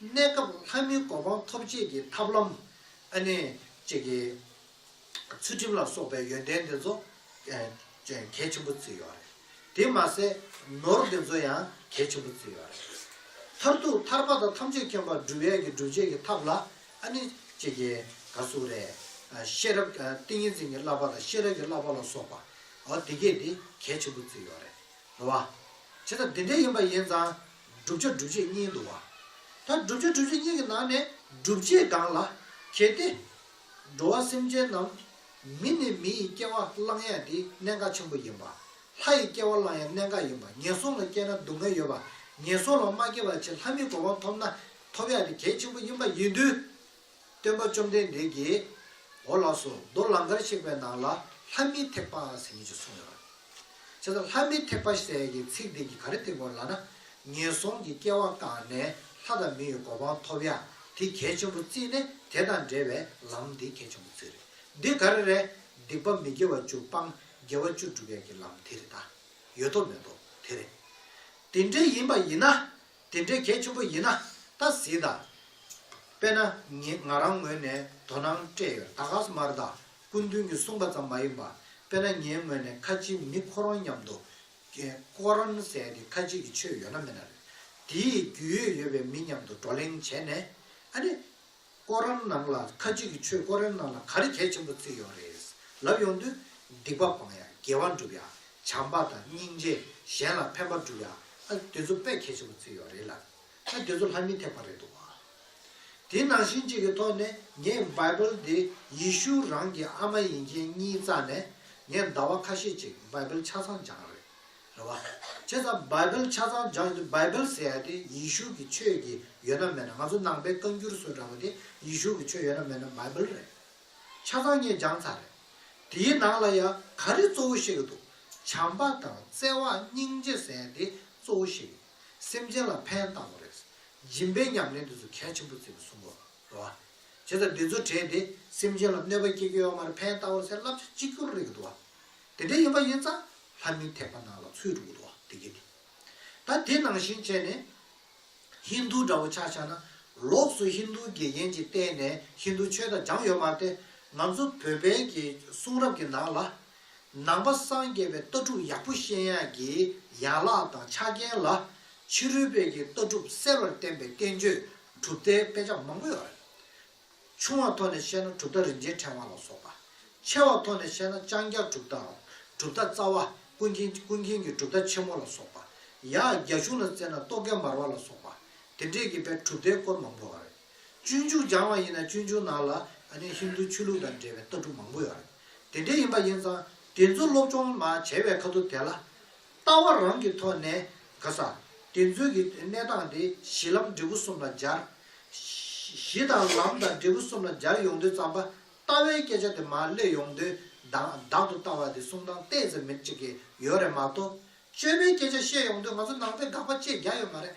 གནས་སྐབས་ལྷ་མིའི་གོ་འཕང་ཐོབ་བྱེད་ཀྱི་ཐབས་ལམ། ཨ་ནི། བཅས་ཀྱི། ཚུལ་ཁྲིམས་ལ་སོགས་པའི་ཡོན་ཏན་འདི་ཚོ། གལ་ཆེན་པོ་བརྩི་ཡོད་རེད། དེ་མ་ཟད། ནོར་འདི་ཚོ་ཡང་གལ་ཆེན་པོ་བརྩི་ཡོད་རེད། མཐར་ཐུག་ཐར་པ་དང་ཐམས་ཅད་མཁྱེན་པར་སྒྲུབ་ཡས་ཀྱི་སྒྲུབ་བྱེད་ཀྱི་ཐབས་ལ། ཨ་ནི། བཅས་ཀྱི། ག་སུ་རེ། ཤེས་རབ། ཏིང་ངེ་འཛིན་གྱི་བསླབ་པ་དང་ཤེས་རབ་ཀྱི་བསླབ་པ་ལ་སོགས་པ། འོ་དེ་གས་དེ་གལ་ཆེན་པོ་བརྩི་ཡོད་རེད། ལ། བྱས་ཙང་འདི་འདྲའི་ཡིན་པ་ཡིན་ཙང། བསྒྲུབ་བྱ་སྒྲུབ་བྱེད་གཉིས་འདུ་བ། ད་བསྒྲུབ་བྱ་སྒྲུབ་བྱེད་གཉིས་ཀྱི་ནང་ནས་བསྒྲུབ་བྱེད་གང་ལ་གལ་ཏེ། འགྲོ་བ་སེམས་ཅན་རྣམས། མི་ནི་མི་ཡི་སྐྱེ་བ་བླང་ཡང་དེ་གནད་འགག་ཆེན་པོ་ཡིན་པ། ལྷ་ཡི་སྐྱེ་བ་བླང་ཡང་གནད་འགག་ཡིན་པ་ངན་སོང་ལ་སྐྱེས་ན་སྡུག་བསྔལ་ཡོད་པ། ངན་སོང་ལ་མ་སྐྱེས་པར་ཕྱིར་ལྷ་མིའི་གོ་འཕང་ཐོབ་ན་ཐོབ་ཡང་དེ་གལ་ཆེན་པོ་ཡིན་པ་ཡིན་དུས། སྟོན་པ་བཅོམ་ལྡན་འདས་ཀྱིས། འོ་ལགས་སོ་རྡོ་ལང་ཀར་གཤེགས་པའི་ནང་ལ་ལྷ་མིའི་ཐེག་པ་ཟེར་གྱི་ཅིག་གསུངས་ཡོད་པ། བྱས་ཙང་ལྷ་མིའི་ཐེག་པ་ཟེར་གྱི་ཚིག་དེ་གྱི་ག་རེ་དེ་མགོར་ལགས་ན། ངན་སོང་གི་སྐྱེ་བ་བཏང་ནས་ལྷ་དང་མི་ཡི་གོ་འཕང་ཐོབ་ཡ་དེ་གལ་ཆེན་པོ་རྩིས་ནས་དེ་དང་འབྲེལ་བའི་ལམ་དེ་གལ་ཆེན་པོ་རྩིས་རེད། འདི་ག་རེ་རེད། སྡིག་པ་མི་དགེ་བ་བཅུ་སྤང་དགེ་བ་བཅུ་བསྒྲུབ་ཡ་གྱི་ལམ་དེ་རེད་ད། ཡོད་དོ་མེད་དོ་དེ་རེད། དེ་འདྲ་ཡིན་པ་ཡིན་ན། དེ་འདྲའི་གལ་ཆེན་པོ་ཡིན་ན་ད་གཟིགས་ད། དཔེར་ན་ངེད་ང་རང་ངོས་ནས་དོ་སྣང་སྤྲད་ཡོད་ད་ག་ས་མར་ད་སྐུ་མདུན་གྱིས་གསུངས་པ་ཙམ་མ་ཡིན་པ་དཔེར་ན་ངའི་ངོས་ནས་ཁ་ཆེའི་མི་ཁོ་རང་མཉམ་དུ་ཀོ་རན་ཟས་ཀྱི་ཁ་ཆེ་གི་ཆོས་ཡོད་ན་མེད་ན་རེད་དེའི་རྒྱུས་ཡོད་ཡོད་པའི་མི་མཉམ་དུ་བགྲོ་གླེང་བྱས་ནས་ཨ་ནི། ཀོ་རཱན་ནང་ལ་ཁ་ཅིག་གིས་ཆོས་ཀོ་རཱན་ནང་ལ་ག་རེ་གལ་ཆེན་པོ་བརྩིས་ཡོད་རེད་ལབ་ཡོང་དུས། སྡིག་པ་སྤང་ཡ་དགེ་བ་འགྲུབ་ཡ། བྱམས་པ་དང་སྙིང་རྗེ་གཞན་ལ་ཕན་པ་བསྒྲུབ་ཡ་ཨ་དེ་ཚོ་དཔེ་གལ་ཆེན་པོ་བརྩིས་ཡོད་རེད་ལབ། ཨ་དེ་ཚོ་ལྷ་མི་ཐེག་པ་རེད་འདུག་བ། དེ་ནང་བཞིན་གཅིག་གི་ཐོག་ནས་ངས Bible འདི་ཡེ་ཤུ་རང་གི་ཨ་མ་ཡིན་མཁན་གཉིས་རྩ་ནས་ངས་ཟླ་བ་ཁ་ཤས་ཅིག Bible ཆ་ཚང་སྦྱངས་རེད། རེད་བ། ཁྱེད་ཚང Bible ཆ་ཚང་སྦྱང་གི་འདུག Bible ཟེར་ཡ་དེ་ཡེ་ཤུ་གི་ཆོས་དེ་ཡོད་ན་མེད་ན་ང་ཚོ་ནང་པའི་བཀའ་འགྱུར་སུ་འདྲ་བོ་དེ་ཡེ་ཤུ་གི་ཆོས་ཡོད་ན་མེད་ན Bible རེད། ཆ་ཚང་ངས་སྦྱང་ཚར་རེད། དེའི་ནང་ལ་ཡང་ག་རེ་གཙོ་བོ་བཤད་གི་འདུག་བྱམས་པ་དང་བརྩེ་བ་སྙིང་རྗེ་ཟེར་དེ་གཙོ་བོ་བཤད་གི་ཡོད། སེམས་ཅན་ལ་ཕན་བཏང་བ་རེད། སྦྱིན་པའི་ཉམས་ལེན་དེ་ཚོ་གལ་ཆེན་པོ་བརྩི་གི་སོང་གོ། རེད་བ། ཁྱེད་ཚང་དེ་ཚོ་དྲན་དེ་སེམས་ཅན་ལ་གནོད་པ་སྐྱེལ་རྒྱུ་ཡོང་མ་རེད་ཕན་བཏང་བ་ཟེར་བསླབ་བྱ་གཅིག་གྱུར་རེད་གི་འདུག་བ། དེ་འདྲ་ཡིན་པ་ཡིན་ཙང་ལྷ་མིའི་ཐེག་པ་ནང་ལ་ཚུད་འགྲོ་གི་འདུག་དེ་སྐད་དེ། ད་དེ་ནང་བཞིན་བྱས་ནས། ཧིན་རྡུ་འདྲ་བོ་ཆགས་ཆགས་ན། ལོགས་སུ་ཧིན་རྡུའི་དགེ་རྒན་གྱིས་བསྟེན་ནས་ཧིན་རྡུ་ཆོས་དང་སྦྱངས་ཡོད་མ་སྟེ། ང་ཚོ་བོད་པའི་གི་གསུང་རབ་ཀྱི་ནང་ལ། ནང་པ་སངས་རྒྱས་པའི་ལྟ་གྲུབ་ཡག་པོ་ཤེས་ཡག་གི་ཡན་ལག་དང་ཆ་རྐྱེན་ལ། ཕྱི་རོལ་པའི་གི་ལྟ་གྲུབ་གསལ་བར་བསྟན་པའི་བསྟན་བཅོས་གྲུབ་མཐའི་དཔེ་ཆ་མང་པོ་ཡོད་རེད། ཆུང་བ་ཐོག་ནས་བཤད་ན་གྲུབ་མཐའ་རིན་ཆེན་ཕྲེང་བ་ལ་སོགས་པ། ཆེ་བ་ཐོག་ནས་བཤད་ན་ལྕང་སྐྱ་གྲུབ་མཐའ། གྲུབ་མཐའ་རྩ་བ། ཀུན་མཁྱེན་ཀུན་མཁྱེན་གྱི་གྲུབ་མཐའ་ཆེན་མོ་ལ་སོགས་པ། ཡང་རྒྱ་གཞུང་ལ་བརྩེ་ན་རྟོག་གེ་མར་བ་ལ་སོགས་པ། དེ་འདྲས་ཀྱི་པའི་གྲུབ་མཐའི་སྐོར་མང་པོ་ཡོད་རེད། སྤྱོད་འཇུག་སྦྱང་བ་ཡིན་ན་སྤྱོད་འཇུག་ནང་ལ་ཧིན་དུ་ཆོས་ལུགས་དང་འབྲེལ་བའི་ལྟ་གྲུབ་མང་པོ་ཡོད་རེད། དེ་འདྲས་ཡིན་པ་ཡིན་ཙང་དེ་ཚོ་སློབ་སྦྱོང་མ་བྱས་པའི་ཁ་ཐུག་དེ་ལ། ལྟ་བ་རང་གི་ཐོག་ནས་ག་ས་དེ་ཚོའི་གི་གནས་སྟངས་དེ་གཞི་ལམ་འབྲས་བུ་གསུམ་ལ་སྦྱར། གཞི་དང་ལམ་དང་འབྲས་བུ་གསུམ་ལ་སྦྱར་ཡོང་དུས་ཙམ་པ་ལྟ་བའི་སྐད་ཆ་དེ་མ་གླེང་ཡོང་དུས་དང་བདག་ཏུ་ལྟ་བ་དེ་གསུང་སྟངས་གཏད་ཙམ་མེད་ཅིག་གི་ཡོད་རེད་མ་གཏོགས། སྤྱོད་པའི་སྐད་ཆ་བཤད་ཡོང་དུས་ང་ཚོ་ནང་ཚན་དགག་པ་བཅས་རྒྱག་ཡོད་མ་རེད།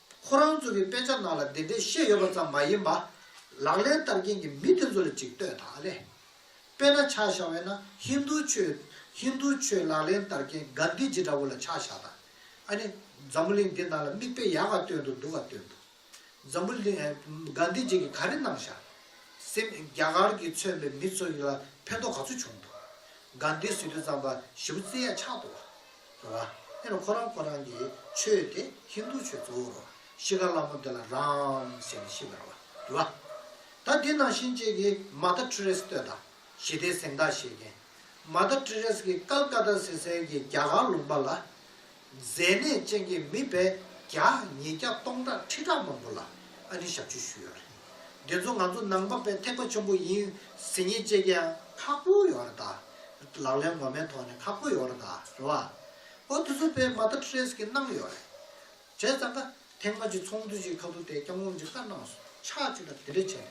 ཁོ་རང་ཚོ་གི་དཔེ་ཆ་ནང་ལ་དེ་འདྲས་བཤད་ཡོད་པ་ཙམ་མ་ཡིན་པ། ལག་ལེན་བསྟར་མཁན་གྱི་མི་དེ་ཚོ་ལ་ཅིག་ལྟོས་དང་ཨ་ལེ། དཔེ་ན་ཆ་བཞག་བས་ན་ཧིན་རྡུ་ཆོས། ཧིན་རྡུ་ཆོས་ལག་ལེན་བསྟར་མཁན་གྷན་དྷི་ཇི་འདྲ་བོ་ལ་ཆ་བཞག་དང། ཨ་ནི། འཛམ་བུ་གླིང་འདི་ནང་ལ་མིག་དཔེ་ཡག་ག་སྟོན་དུ་འདུག་ག་སྟོན་འདུག། འཛམ་བུ་གླིང། གྷན་དྷི་ཇི་གིས་ག་རེ་གནང་བཞག། སེམས། རྒྱ་གར་གྱིས་མཚོན་པའི་མི་ཚོ་ཡི་ལ་ཕན་ཐོག་ག་ཚོད་བྱུང་འདུག། གྷན་དྷི་སི་ཏུ་ཙམ་པ་བཞི་བོ་རྩེ་ཡ་ཆག་འདུག་བ། ལ། དེ་ལ་ཁོ་རང་ཁོ་རང་གི་ཆོས་དེ་ཧིན་དྷུ་ཆོས་གཙོ་བོ་རོ། ཤི་ཀ་ལ་མོ་དེ་ལ་རཱམ་ཟེར་ནས་ཤི་ཀ་ར་བ། ལ། ད་འདི་ནང་བཞིན་བཅས་ཀྱི་མ་ད་ཏྲི་རེས་བསྟོད་དང། ཞི་དེའི་གཟེངས་རྟགས་བཞེས་མཁན། མ་ད་ཏྲི་རེས་ཀྱི་ཀལ་ཀ་ཏ་སི་སན་གྱི་རྒྱ་གར་ལུང་པ་ལ། མཛེས་ནད་ཅན་གྱི་མི་བས་བརྒྱ་ཉིས་བརྒྱ་སྟོང་ཕྲག་ཁྲི་ཕྲག་མང་པོ་ལ་ཨ་ནི་ཞབས་ཕྱི་ཞུས་ཡོད་རེད། འདི་ཚོ་ང་ཚོ་ནང་པ་བས་ཐེག་པ་ཆེན་པོ་ཡིན་ཟེར་ཉེས་བཅས་ཀྱང་ཁག་པོ་ཡོད་རེད་ད། ལག་ལེན་ངོ་མའི་ཐོག་ནས་ཁག་པོ་ཡོད་རེད་དཱ། རེད་བ། ཨོ་དེ་ཚོ་པད་མ་ད་ཀྲེས་ཀྱི་གནང་ཡོད་རེད། བྱས་ཙང་ཀ། ཐེངས་མ་གཅིག་ཚོགས་འདུ་ཅིག་ཁ་ཐུག་ཐད་སྐྱབས་ངོམ་ཅིག་ས་གནང་སོང་ཕྱག་གཅིག་ལ་དེ་འདྲས་བྱས་རེད།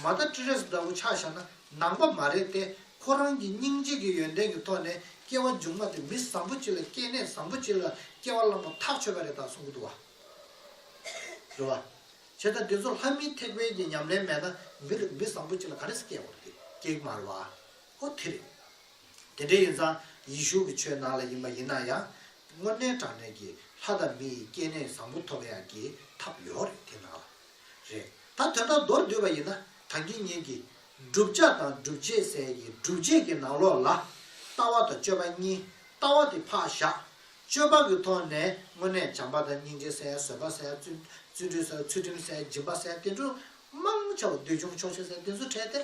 མ་ད་ཀྲེས་འདྲ་བོ་ཆགས་བཞག་ན་ནང་པ་མ་རེད་དེ། ཁོ་རང་གི་སྙིང་རྗེ་གི་ཡོན་ཏན་གི་ཐོག་ནས་སྐྱེ་བ་མཇུག་མ་དེ་མི་བཟང་པོ་ཅིག་ལ་སྐྱེས་ནད་བཟང་པོ་ཅིག་ལ་སྐྱེ་བ་བླངས་པ་ཐག་ཆོད་པ་རེད་དཱ་གསུང་གི་འདུག་བ། རེད་བ། བྱས་ཙང་དེ་ཚོ་ལྷ་མིའི་ཐེག་པའི་གི་ཉམས་ལེན་མེད་ན་མི་རེད་མི་བཟང་པོ་ཅིག་ལ་ག་རེས་སྐྱེ་དགོས་རེད་དེ་སྐྱེ་གི་མ་རེད་བ། ཨོ་དྷི་རེད། དེ་འདྲ་ཡིན་ཙང་ཡེ་ཤུ་གི་ཆོས་ནང་ལ་ཡིན་པ་ཡིན་ན་ཡང། དངོས་གནས་དྲང་གནས་ཀྱི་ལྷ་དང་མི་ཡི་སྐྱེ་གནས་བཟང་པོ་ཐོབ་ཡག་གི་ཐབས་ཡོག་རེད་དེ་ནང་ལ། རེད་ད་དོན་དག་མདོར་བསྡུས་པ་ཡིན་ན་དང་དགེ་བསྙེན་གྱི། བསྒྲུབ་བྱ་དང་སྒྲུབ་བྱེད་ཟས་ཀྱི་སྒྲུབ་བྱེད་ཀྱི་ནང་ལོགས་ལ། ལྟ་བ་དང་སྤྱོད་པ་གཉིས་ལྟ་བ་དེ་ཕག་བཞག། སྤྱོད་པ་གི་ཐོག་ནས་དངོས་གནས་བྱམས་པ་དང་སྙིང་རྗེ་ཟས་བཟོད་པ་ཟས་བརྩོན་འགྲུས་ཟས་ཚུལ་ཁྲིམས་ཟས་སྦྱིན་པ་ཟས་བསྟེན་འགྲོ། མང་ཆེ་བ་འདོད་ཆུང་ཆོག་ཤེས་ཟས་བསྟེན་བཟོད་བྲལ་དེར་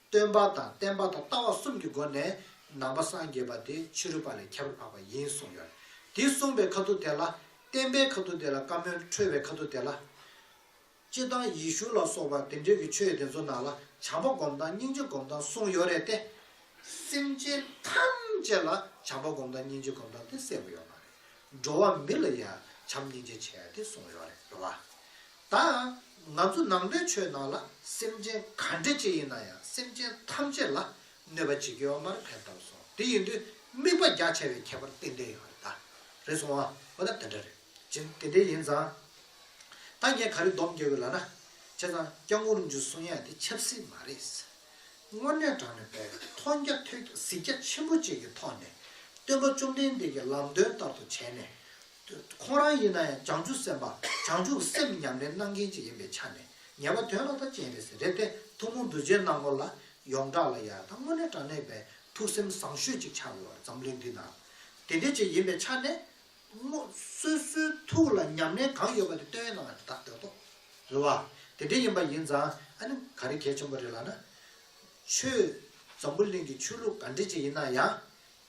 སྟོན་པ་དང་བསྟན་པ་དང་ལྟ་བ་གསུམ་གྱི་སྒོ་ནས་ནང་པ་སངས་རྒྱས་པ་དེ་ཕྱི་རོལ་པ་ལས་ཁྱད་པར་འཕགས་པ་ཡིན་གསུངས་ཡོད། དེ་གསུངས་པའི་ཁ་ཐུག་དེ་ལ། བསྟན་པའི་ཁ་ཐུག་དེ་ལ་བཀའ་མོལ་འཁྲོལ་བའི་ཁ་ཐུག་དེ་ལ། སྤྱིར་བཏང་ཡེ་ཤུ་ལ་སོགས་པ་དེ་འདྲས་ཀྱི་ཆོས་དེ་ཚོ་ནང་ལ་བྱམས་པ་སྒོམ་སྟངས་སྙིང་རྗེ་སྒོམ་སྟངས་གསུངས་ཡོད་རེད་དེ། སེམས་ཅན་ཐམས་ཅད་ལ་བྱམས་པ་སྒོམ་སྟངས་སྙིང་རྗེ་སྒོམ་སྟངས་དེ་གསལ་པོ་ཡོད་མ་རེད། འགྲོ་བ་མི་ལ་ཡང་བྱམས་སྙིང་རྗེ་བྱས་ཏེ་གསུངས་ཡོད་རེད་བ། ད་ང་ཚོ་ནང་པའི་ཆོས་ནང་ལ་སེམས་ཅན་ག་འདྲེ་ཅི་ཡིན་ན་ཡང་སེམས་ཅན་ཐམས་ཅད་ལ་གནོད་པ་བྱེད་ཀྱི་ཡོ་མར་ཕན་བཏབ་སོང་དེ་ཡིན་དུས་དམིགས་པ་རྒྱ་ཆེ་བའི་ཁྱད་པར་ཏན་ཏན་ཡོང་རེད་ད་རེད་སོང་ཨ་འོ་ན་དེ་འདྲ་རེད་ཅི་དེ་འདྲས་ཡིན་ཙང་ད་ངས་ག་རེ་སྡོམ་རྒྱག་ཡོད་ལ་ན་བྱས་ཙང་སྐྱག་ངུ་རུང་ཆུ་སོང་ཡག་དེ་ཆབ་སྲིད་མ་རེད་ཟེར་དངོས་གནས་དྲང་ནས་པའི་མཐོང་རྒྱ་ཐོས་རྒྱ་གཟིགས་རྒྱ་ཆེན་པོ་བཅས་ཀྱི་ཐོག་ནས་སྟོན་པ་བཅོམ་ལྡན་འདས་ཀྱི་ལམ་སྟོན་ལྟར་དུ་བྱས་ནས་དུ་ཁོང་རང་ཡིན་ན་ཡང་བྱང་ཆུབ་སེམས་དཔའ་བྱང་ཆུབ་སེམས་ཉམས་ལེན་གནང་མཁན་ཅིག་ཡིན་པའི་ཆ་ནས་ངེས་པ་དོན་ལ་མཐའ་ཅན་རེད་ཟེར་རེད་དེ་ཐུན་མོང་གདུལ་བྱའི་སྣང་ངོར་ལ་ཡོངས་གྲགས་ལ་ཡང་དང་དངོས་གནས་དྲང་གནས་པའི་ཐུགས་སེམས་བཟང་ཤོས་ཅིག་ཆགས་ཡོད་པ་རེད་འཛམ་གླིང་འདི་ན་དེ་འདྲའི་ཅིག་ཡིན་པའི་ཆ་ནས། སྔོ། སོ་སོའི་ཐུགས་ལ་ཉམས་ལེན་གང་ཡོད་པ་དེ་བཏོན་གནང་བ་དེ་དག་འདོད་དོ། རེད་བ། དེ་འདྲའི་ཡིན་པ་ཡིན་ཙང་ཨ་ནི་ག་རེ་གལ་ཆེན་པོ་རེད་ལགས་ན། ཆོས། འཛམ་བུ་གླིང་གི་ཆོས་ལུགས་ག་འདྲི་ཅིག་ཡིན་ན་ཡང།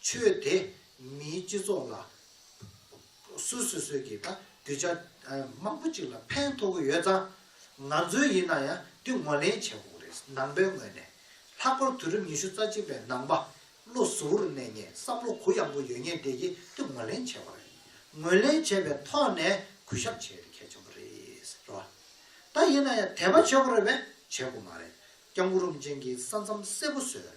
ཆོས་དད་མིའི་སྤྱི་ཚོགས་ལ། སུ་སུ་སོས་ཀྱིས་ད་རྒྱུ་ཆ་མང་པོ་གཅིག་ལ་ཕན་ཐོག་གི་ཡོད་ཙང། ང་ཚོའི་ཡིན་ན་ཡང་འདི་ངོ་ལེན་བྱེད་དགོས་རེད་ནང་པའི་ངོས་ནས། ལྷག་པར་དུས་རབས་ཉི་ཤུ་རྩ་གཅིག་པའི་ནང་པ་བློ་གཟུ་བོར་གནས་ངེས་བསམ་བློ་གུ་ཡངས་པོ་ཡོད་ངེས་དེ་ཀྱིས་འདི་ངོ་ལེན་བྱེད་དགོས་རེད། ངོས་ལེན་བྱས་པའི་ཐོག་ནས་གུས་ཞབས་བྱེད་རྒྱུ་གལ་ཆེན་པོ་རེད་རེད་བ། ད་ཡིན་ན་ཡང་དད་པ་བྱེད་དགོས་རེད་བས་བྱེད་དགོས་མ་རེད་སྐྱབས་འགུ་རུམ་ཅན་གྱིས་ས་མཚམས་གསལ་པོ་བཟོས།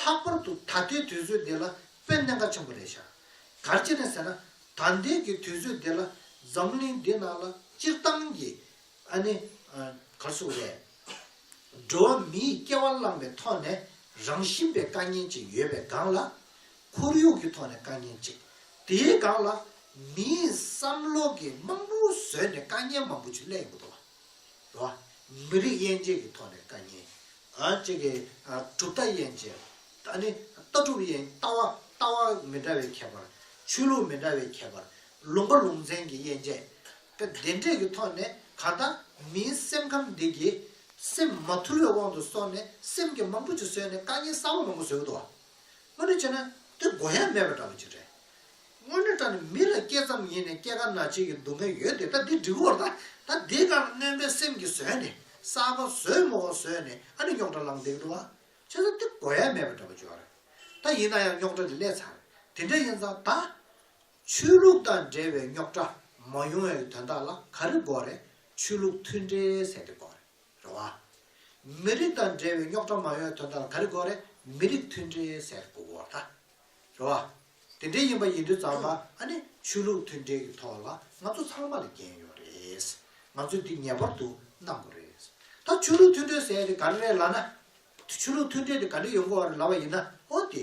ལྷག་པར་དུ་ད་ལྟའི་དུས་ཚོད་འདི་ལ་དཔེ་གནད་འགག་ཆེན་པོ་རེད་ཤག། གར་ཅི་རེད་ཟེར་ན། ད་ལྟའི་གི་དུས་ཚོད་འདི་ལ་འཛམ་གླིང་འདི་ནང་ལ་སྤྱིར་བཏང་གི། ཨ་ནི། གར་སོགས་རེད། འགྲོ་བ་མིའི་སྐྱེ་བ་བླངས་པའི་ཐོག་ནས་རང་བཞིན་པའི་དཀའ་ངལ་ཅིག་ཡོད་པའི་སྒང་ལ། ཁོར་ཡུག་གི་ཐོག་ནས་དཀའ་ངལ་ཅིག། དེའི་སྒང་ལ། མིའི་བསམ་བློ་གི་རྨང་བུ་བཟོས་ནས་དཀའ་ངལ་མང་པོ་ཅིག་སླེབས་ཡོང་གི་འདུག་བ། མི་རིགས་དབྱེ་འབྱེད་ཀྱི་ཐོག་ནས་དཀའ་ངལ། གཅིག་གིས་གྲུབ་མཐའ་ཡན་ཆད། ད་ནི་ལྟ་གྲུབ་ཡན། ལྟ་བ་ལྟ་བ་མི་འདྲ་བའི་ཁྱད་པར། ཆོས་ལུགས་མི་འདྲ་བའི་ཁྱད་པར། ལུང་པ་ལུང་ཚན་གྱི་ཡན་ཆད། ཀ། བདེན་འབྲས་ཀྱི་ཐོག་ནས་གང་ལྟར། མིའི་སེམས་ཁམས་འདི་གྱིས། སེམས་མ་ཐུར་བའི་དབང་དུ་སོང་ནས་སེམས་ཀྱི་མང་པོ་ཅིག་བཟོས་ནས་དཀའ་ངལ་གསར་བ་མང་པོ་བཟོས་ཀྱི་འདུག་བ། སྔོན་འགྲོ་བྱས་ན། འདི་མགོ་ཡ་མེད་པ་འདྲ་པོ་ཅིག་རེད། དངོས་གནས་ད་ནི་མི་ལ་སྐྱེས་ཙམ་ཡིན་ནས་སྐྱེ་རྒ་ན་འཆི་གི་སྡུག་བསྔལ་ཡོད་དེ་ད་འདི་འགྲིག་གོ་ད་ད་འདི་གང་རྣོན་པའི་སེམས་ཀྱིས་བཟོས་ནས་སྲབ་པ་བཟོས་མོ་བ་བཟོས་ནས་ཨ་ནི་རྙོག་དྲ་ལངས་འདེགས་འགྲོ་བ་བྱེད་ས་འདི་གོ་ཡ་མེད་པ་འདྲ་པོ་འཇོག་རེད་ད་ཡིན་ན་ཡང་རྙོག་དྲ་འདི་སླད་ཚར་དེ་འདྲ་ཡིན་ཙང་ད། ཆོས་ལུགས་དང་འབྲེལ་བའི་རྙོག་དྲ་མ་ཡོང་བའི་དོན་དག་ལ་ག་རེ་འགོག་རེད་ཆོས་ལུགས་མཐུན་འབྲེལ་ཟེར་དེ་འགོག་རེད་རེད་བ། མི་རིགས་དང་འབྲེལ་བའི་རྙོག་དྲ་མ་ཡོང་བའི་དོན་དག་ལ་ག་རེ་འགོག་རེད་མི་རིགས་མཐུན་འབྲེལ་ཟེར་དེ་འགོག་རེད་ད། རེད་བ། དེ་འདྲའི་ཡིན་པ་ཡིན་དུས་ཙང་མ་ཨ་ནི་ཆོས་ལུགས་མཐུན་འབྲེལ་གྱི་ཐོག་ལ་ང་ཚོ་ཚང་མ་ལ་རྒྱན་ཡོད་རེད། ང་ཚོས་འདི་ངེས་པར་དུ་གནང་དགོས་རེད། ད་ཆོས་ལུགས་མཐུན་འབྲེལ་ཟེར་ཡ་དེ་ག་རེ་རེད་ལ་ན། དེ་ཆོས་ལུགས་མཐུན་འབྲེལ་དེ་ག་འདྲ་ཡོད་དགོས་རེད་ལབ་པ་ཡིན་ན་འོ་དེ།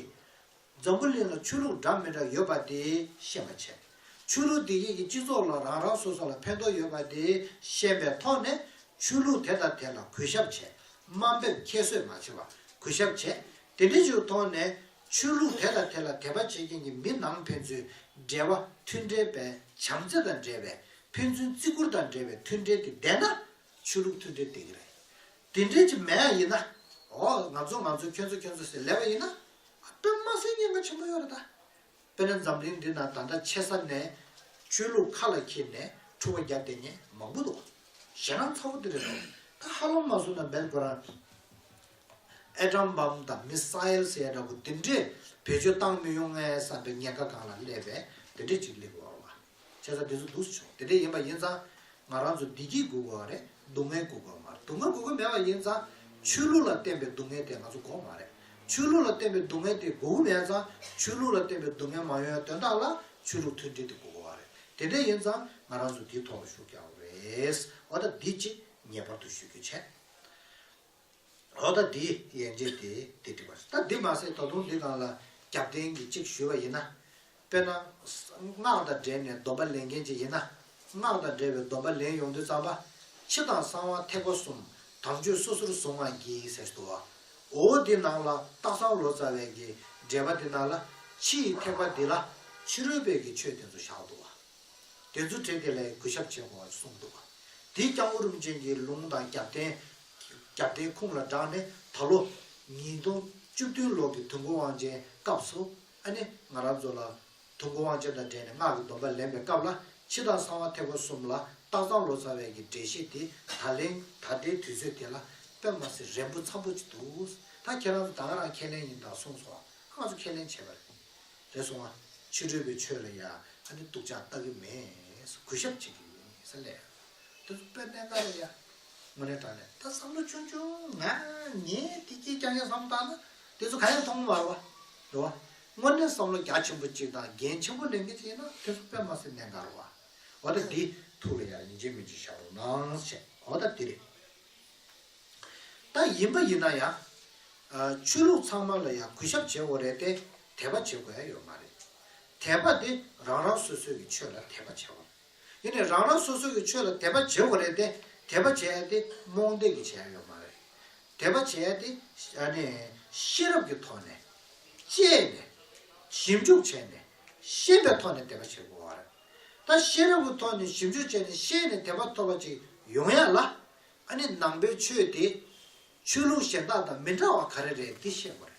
འཛམ་བུ་གླིང་ལ་ཆོས་ལུགས་འདྲ་མི་འདྲ་ཡོད་པ་དེ་ཤེས་པ་བྱས། ཆོས་ལུགས་དེ་གཉིས་ཀྱི་སྤྱི་ཚོགས་ལ་རང་རང་སོ་སོ་ལ་ཕན་ཐོགས་ཡོད་པ་དེ་ཤེས་པའི་ཐོག་ནས་ཆོས་ལུགས་དེ་དང་དེ་ལ་གུས་ཞབས་བྱས། དམའ་འབེབས་ཁྱད་གསོད་མ་བྱས་པ་གུས་ཞབས་བྱས། དེ་འདྲའི་ཆོས་ཐོག་ནས་ཆོས་ལུགས་དེ་དང་དེ་ལ་དད་པ་བྱེད་མཁན་གྱི་མི་ནང་ཕན་ཚུན་འབྲེལ་བ་མཐུན་འབྲེལ་པའི་བྱམས་བརྩེ་དང་འབྲེལ་བའི་ཕན་ཚུན་བརྩི་བཀུར་དང་འབྲེལ་བའི་མཐུན་འབྲེལ་དེ་ལྡན་ན་ཆོས་ལུགས་མཐུན་འབྲེལ་དེ་གི་རེད། དེ་འབྲེལ་གྱི་མེད་ཡིན་ན་འོ་ང་ཚོ་ང་ཚོ་ཁྱོད་ཚོ་ཁྱོད་ཚོ་ཟེར་ལེ་བ་ཡིན་ན་དཔེར་མ་ཟད་ཉེན་ཁ་ཆེན་པོ་ཡོད་རེད་ད། དཔེར་ན་འཛམ་གླིང་འདི་ན་ད་ལྟ་ཆེ་ས་ནས་ཆོས་ལུགས་ཁ་ལ་འཁྱེར་ནས་འཁྲུག་པ་རྒྱབ་བསྡད་མཁན་མང་པོ་འདུག་ཞེ་སྣང་ཚ་བོ་དེ་རེད་འདུག་ད་ཧ་ལམ་མ་བཟོ་ན་མེད་དགོས་རང། ཨེ་ཀྲམ་འབམ་དང་མི་ས་ཨེལ་ཟེར་ཡ་འདྲ་པོ་འདི་འདྲས་བེད་སྤྱོད་བཏང་མི་ཡོང་ངའི་བསམ་པའི་ཉེན་ཁ་གང་ལ་སླེབས་པས་དེ་འདྲས་ཅིག་ལེགས་བར་བ། བྱས་ཙང་དེ་ཚོ་འདུག་ཆོག་དེ་འདྲས་ཡིན་པ་ཡིན་ཙང་ང་རང་ཚོ་བདེ་སྐྱིད་སྒུག་དགོས་བ་རེད་སྡུག་བསྔལ་སྒུག་དགོས་མ་རེད་སྡུག་བསྔལ་སྒུག་གི་མེད་པ་ཡིན་ཙང་ཆོས་ལུགས་ལ་བརྟེན་པའི་སྡུག་བསྔལ་དེ་ང་ཚོ་འགོག་མ་རེད་ཆོས་ལུགས་ལ་བརྟེན་པའི་སྡུག་བསྔལ་དེ་སྒུག་གི་མེད་ཙང་ཆོས་ལུགས་ལ་བརྟེན་པའི་སྡུག་བསྔལ་མ་ཡོང་བའི་དོན་དག་ལ་ཆོས་ལུགས་མཐུན་སྒྲིལ་དེ་སྒུག་དགོས་བ་རེད་དེ་འདྲས་ཡིན་ཙང་ང་རང་ཚོ་འདིའི་ཐོག་ལ་ཞུགས་རྒྱག་བ་རེད་བ་ད་འདི་ཅིག་ངེས་པར་དུ་ཞུ་རྒྱུ་བྱས། ལོ་ཟླ་འདིའི་ཡན་ཆད་དེ་དེ་བྲིས་པ་རེད་ད་འདི་མ་ཟད་ད་དུང་འདི་དང་ལ་རྒྱབ་རྟེན་གྱི་གཅིག་ཞུས་པ་ཡིན་ན། དཔེར་ན། སྔགས་དང་འབྲེལ་ནས་སྡོམ་པ་ལེན་མཁན་ཅིག་ཡིན་ན། སྔགས་དང་འབྲེལ་བའི་སྡོམ་པ་ལེན་ཡོང་དུས་གཙང་པ། ཕྱི་དང་གསང་བ་ཐེག་པ་གསུམ་དམ་ཆོས་སོ་སོར་བཟུང་བ་གྱིས་ཟེར་ཟློ་བ། འོ་འདི་ནང་ལ་སྟག་ཚང་ལོ་ཙཱ་བས་ཀྱི་འགྲེལ་པ་འདི་ནང་ལ། ཕྱི་ཡི་ཐེག་པ་འདི་ལ་ཕྱི་རོལ་བས་ཀྱི་ཆོས་དེ་ཚོ་བཞག་ཟློ་བ། དེ་ཚོ་བྲིས་དེ་ལས་གུས་ཞབས་བྱེད་དགོས་བ་གསུངས་འདུག་བ། འདིས་ཀྱང་ཨུ་རུམ་ཅན་གྱི་ལུང་དང་རྒྱབ་རྟེན་རྒྱ་བསྟན་ཁུངས་ལ་བསྒྲགས་ནས་ད་ལོ། ཉིས་སྟོང་བཅུ་བདུན་ལོ་གི་དུས་འགོ་དབང་ཅན་སྐབས་སུ་ཨ་ནེ་ང་རང་ཚོ་ལ། དུས་འགོ་དབང་ཅན་དང་འབྲེལ་ནས་སྔགས་ཀྱི་སྡོམ་པ་ལེན་པའི་སྐབས་ལ་འཆི་བདག་གསང་བ་ཐེག་པ་གསུམ་ལ་སྟག་ཚང་ལོ་ཙཱ་བས་ཀྱི་འགྲེལ་བཤད་དེ་ད་ལེན། ད་ལྟའི་དུས་ཚོད་དེ་ལ་དཔེ་མ་ཟད་རན་པོ་འཚམས་པོ་ཅིག་འདུག་ད་ཁྱེད་རང་ཚོ་ད་ང་རང་ཁས་ལེན་ཡིན་ད་གསུངས་སོང་ང་ཚོ་ཁས་ལེན་བྱས་པ་རེད་རེད་སོང་ང་ཕྱི་རོལ་པའི་ཆོས་ལ་ཡང་ཨ་ནེ་སྟུག་ཅག་ལྟ་གི་མེད་གུས་ཞབས་བྱེད་ཀྱི་ཡོད་ངེས་ས་ལས། དེ་ཚོ་དཔེར་ལེན་ག་རེད་ཡ། དངོས་གནས་དྲང་གནས་ད་བསམ་བློ་ཆུང་ཆུང་ང་ངས་དེ་སྐྱིད་རྐྱང་རྐྱང་བསམ་བློ་བཏང་ན་དེ་ཚོ་ག་ཡང་མཐོང་མ་རུང་བ། རེད་བ། དངོས་གནས་བསམ་བློ་རྒྱ་ཆེན་པོ་ཅིག་དང་འགན་ཆེན་པོ་ལེན་མཁན་ཅིག་ཡིན་ན་དེ་ཚོ་དཔེ་མ་སེ་ནན་ག་རུང་བ། འོ་ད་འདི་ཐུགས་ལ་ཡར་ཡིན་གཅིག་མིན་གཅིག་བཞག་རོགས་གནང་བྱས་འོ་ད་དེ་རེད། ད་ཡིན་པ་ཡིན་ན་ཡ། ཆོས་ལུགས་ཚང་མ་ལ་ཡང་གུས་ཞབས་བྱེད་འོ་རེད་དེ་དད་པ་བྱེད་དགོས་ཡ་ཡོད་མ་རེད། དད་པ་དེ་རང་རང་སོ་སོའི་གི་ཆོས་ལ་དད་པ་བྱས་འོ་རེད། དེ་ནི་རང་རང་སོ་སོ་གི་ཆོས་ལ་དད་པ་བྱེད་དགོས་རེད་དེ་དད་པ་བྱས་ཡས་དེ་རྨོངས་དད་ཀྱི་བྱས་ཡས་ཡོད་མ་རེད། དད་པ་བྱས་ཡས་དེ་ནི་ཤེས་རབ་ཀྱི་ཐོག་ནས། དཔྱད་ནས། ཞིབ་འཇུག་བྱས་ནས། ཤེས་པའི་ཐོག་ནས་དད་པ་བྱེད་དགོས་བ་རེད། ད་ཤེས་རབ་ཀྱི་ཐོག་ནས་ཞིབ་འཇུག་བྱས་ནས་ཤེས་ནས་དད་པ་ཐོབ་པ་ཅིག་ཡོང་ཡས་ལ། ཨ་ནི་ནང་པའི་ཆོས་དེ། ཆོས་ལུགས་གཞན་དག་དང་མི་འདྲ་བ་ག་རེ་རེད་དེ་ཤེས་དགོས་རེད།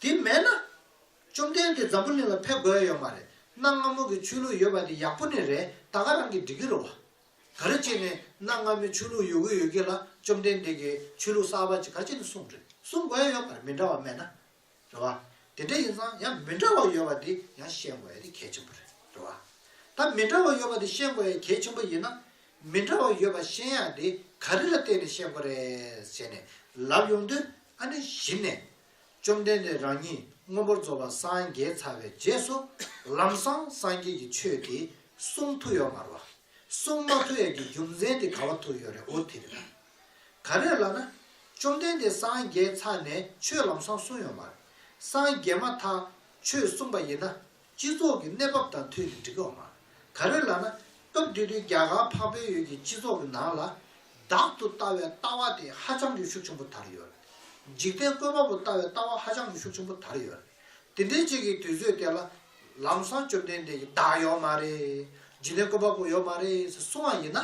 དེ་མེད་ན། བཅོམ་ལྡན་འདས་འཛམ་བུ་གླིང་ལ་ཕེབས་དགོས་ཡོད་མ་རེད་གནའ་སྔ་མོ་གི་ཆོས་ལུགས་ཡོད་པ་དེ་ཡག་པོ་ནི་རེད་ད་ག་རང་གིས་འབྲི་གི་རུ་བ། ག་རེ་བྱས་ནས་གནའ་སྔ་མོའི་ཆོས་ལུགས་ཡོད་གི་ཡོད་གི་ལ་བཅོམ་ལྡན་འདས་ཀྱིས་ཆོས་ལུགས་གསར་བ་ཅིག་ག་ཅིག་ནས་གསུངས་རེད་གསུངས་དགོས་ཡོད་མ་རེད་མི་འདྲ་བ་སྨྲས་ན་རེད་བ། དེ་འདྲ་ཡིན་ཙང་ཡང་མི་འདྲ་བ་ཡོད་པ་དེ་ཡང་ཤེས་དགོས་ཡ་དེ་གལ་ཆེན་པོ་རེད་བ། ད་མི་འདྲ་བ་ཡོད་པ་དེ་ཤེས་དགོས་ཡ་གལ་ཆེན་པོ་ཡིན་ན། མི་འདྲ་བ་ཡོད་པ་ཤེས་ཡག་དེ་ག་རེ་ལ་བལྟས་ནས་ཤེས་དགོས་རེད་བྱས་ནས་ལབ་ཡོང་དུས་ཨ་ནི་གཞི་ནས་བཅོམ་ལྡན་འདས་རང་ཉིད་སྔོན་པོར་རྫོགས་པ་སངས་རྒྱས་ཚར་བའི་རྗེས་སུ་ལམ་སང་སངས་རྒྱས་ཀྱི་ཆོས་ཀྱི་གསུང་ཐུགས་ཡོད་མ་རུ་བ། གསུང་མ་ཐུགས་ཡས་ཀྱི་རྒྱུ་མཚན་དེ་ག་བ་ཐུགས་ཡོད་རེད་འུ་དེ་རེད་ལ། ག་རེ་ལ་ན། བཅོམ་ལྡན་འདས་སངས་རྒྱས་ཚར་ནས་ཆོས་ལམ་སང་གསུང་ཡོད་མ་རེད། སངས་རྒྱས་མ་ཐག་ཆོས་གསུངས་པ་ཡིན་ན་སྤྱི་ཚོགས་ཀྱི་གནས་བབ་དང་ཐོལ་གྱི་འགྲིག་ཡོག་མ་ག་རེ་ལ་ན་སྐབས་དེ་དུས་རྒྱ་གར་འཕགས་བོད་ཡུལ་གྱི་སྤྱི་ཚོགས་ཀྱི་ནང་ལ་བདག་ཏུ་ལྟ་བའི་ལྟ་བ་དེ་ཧ་ཅང་གི་ཤུགས་ཆེན་པོ་དར་ཡོད། འཇིག་རྟེན་བཀོད་པ་པོ་ལྟ་བའི་ལྟ་བ་ཧ་ཅང་གི་ཤུགས་ཆེན་པོ་དར་ཡོད། དེ་འདྲའི་ཅིག་གི་དུས་ཚོད་དེ་ལ་ལམ་སང་བཅོམ་ལྡན་འདས་ཀྱི་བདག་ཡོག་མ་རེད། འཇིག་རྟེན་བཀོད་པ་པོ་ཡོག་མ་རེད་ཟེར་གསུང་བ་ཡིན་ན།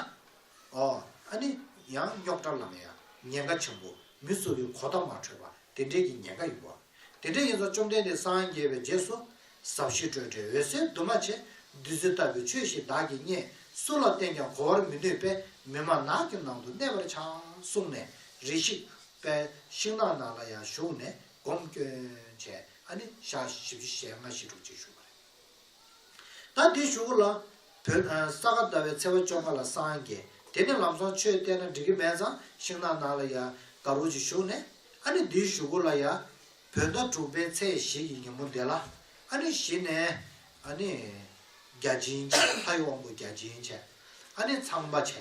ཨོ། ཨ་ནི་ཡང་རྙོག་དྲ་ལ་ངེས་ཡ་ཉེན་ཁ་ཆེན་པོ་མི་གཙོ་བའི་གོ་བརྡ་མ་འཕྲོད་པ་དེ་འདྲའི་གི་ཉེན་ཁ་ཡོད། དེ་འདྲའི་ཡིན་ཚོ་བཅོམ་ལྡན་འདས་སངས་རྒྱས་པའི་རྗེས་སུ། ཟབ་ཞི་སྤྲོས་བྲལ་འོད་གསལ་འདུས་མ་བྱས་བདུད་རྩི་ལྟ་བུའི་ཆོས་ཞིག་བདག་གིས་རྙེད། སུ་ལ་བསྟན་ཀྱང་གོ་བར་མི་ནུས་པས་མི་མ་ནག་གི་ནང་དུ་གནས་པར་བྱ། གསུངས་ནས་རེ་ཤིག། པའི་ཤིང་ནགས་ནང་ལ་ཡང་ཞུགས་ནས་སྒོམ་སྐྱོན་བྱས། ཨ་ནི་ཞག་བཞི་བཅུ་ཞེ་ལྔ་ཞེ་དྲུག་ཅིག་བཞུགས་པ་རེད། ད་འདི་ཞུ་གོ་ལ། བུ། ས་ག་ཟླ་བའི་ཚེས་པ་བཅོ་ཁ་ལ་སངས་རྒྱས་དེ་ནས་ལམ་སོང་ཆོས་བསྟན་ན་འགྲིག་གི་མེད་ཙང་ཤིང་ནགས་ནང་ལ་ཡ་ག་རུ་ཅིག་བཞུགས་ནས་ཨ་ནི་འདི་ཞུ་གོ་ལ་ཡ། བུ། ཟླ་དྲུག་པའི་ཚེས་བཞི་གི་ཉིན་མོ་འདི་ལ་ཨ་ནི་གཞི་ནས་ཨ་ནི། བརྒྱ་བྱིན་བྱས་ལྷ་ཡི་དབང་པོ་བརྒྱ་བྱིན་བྱས་ཨ་ནི་ཚངས་པ་བྱས་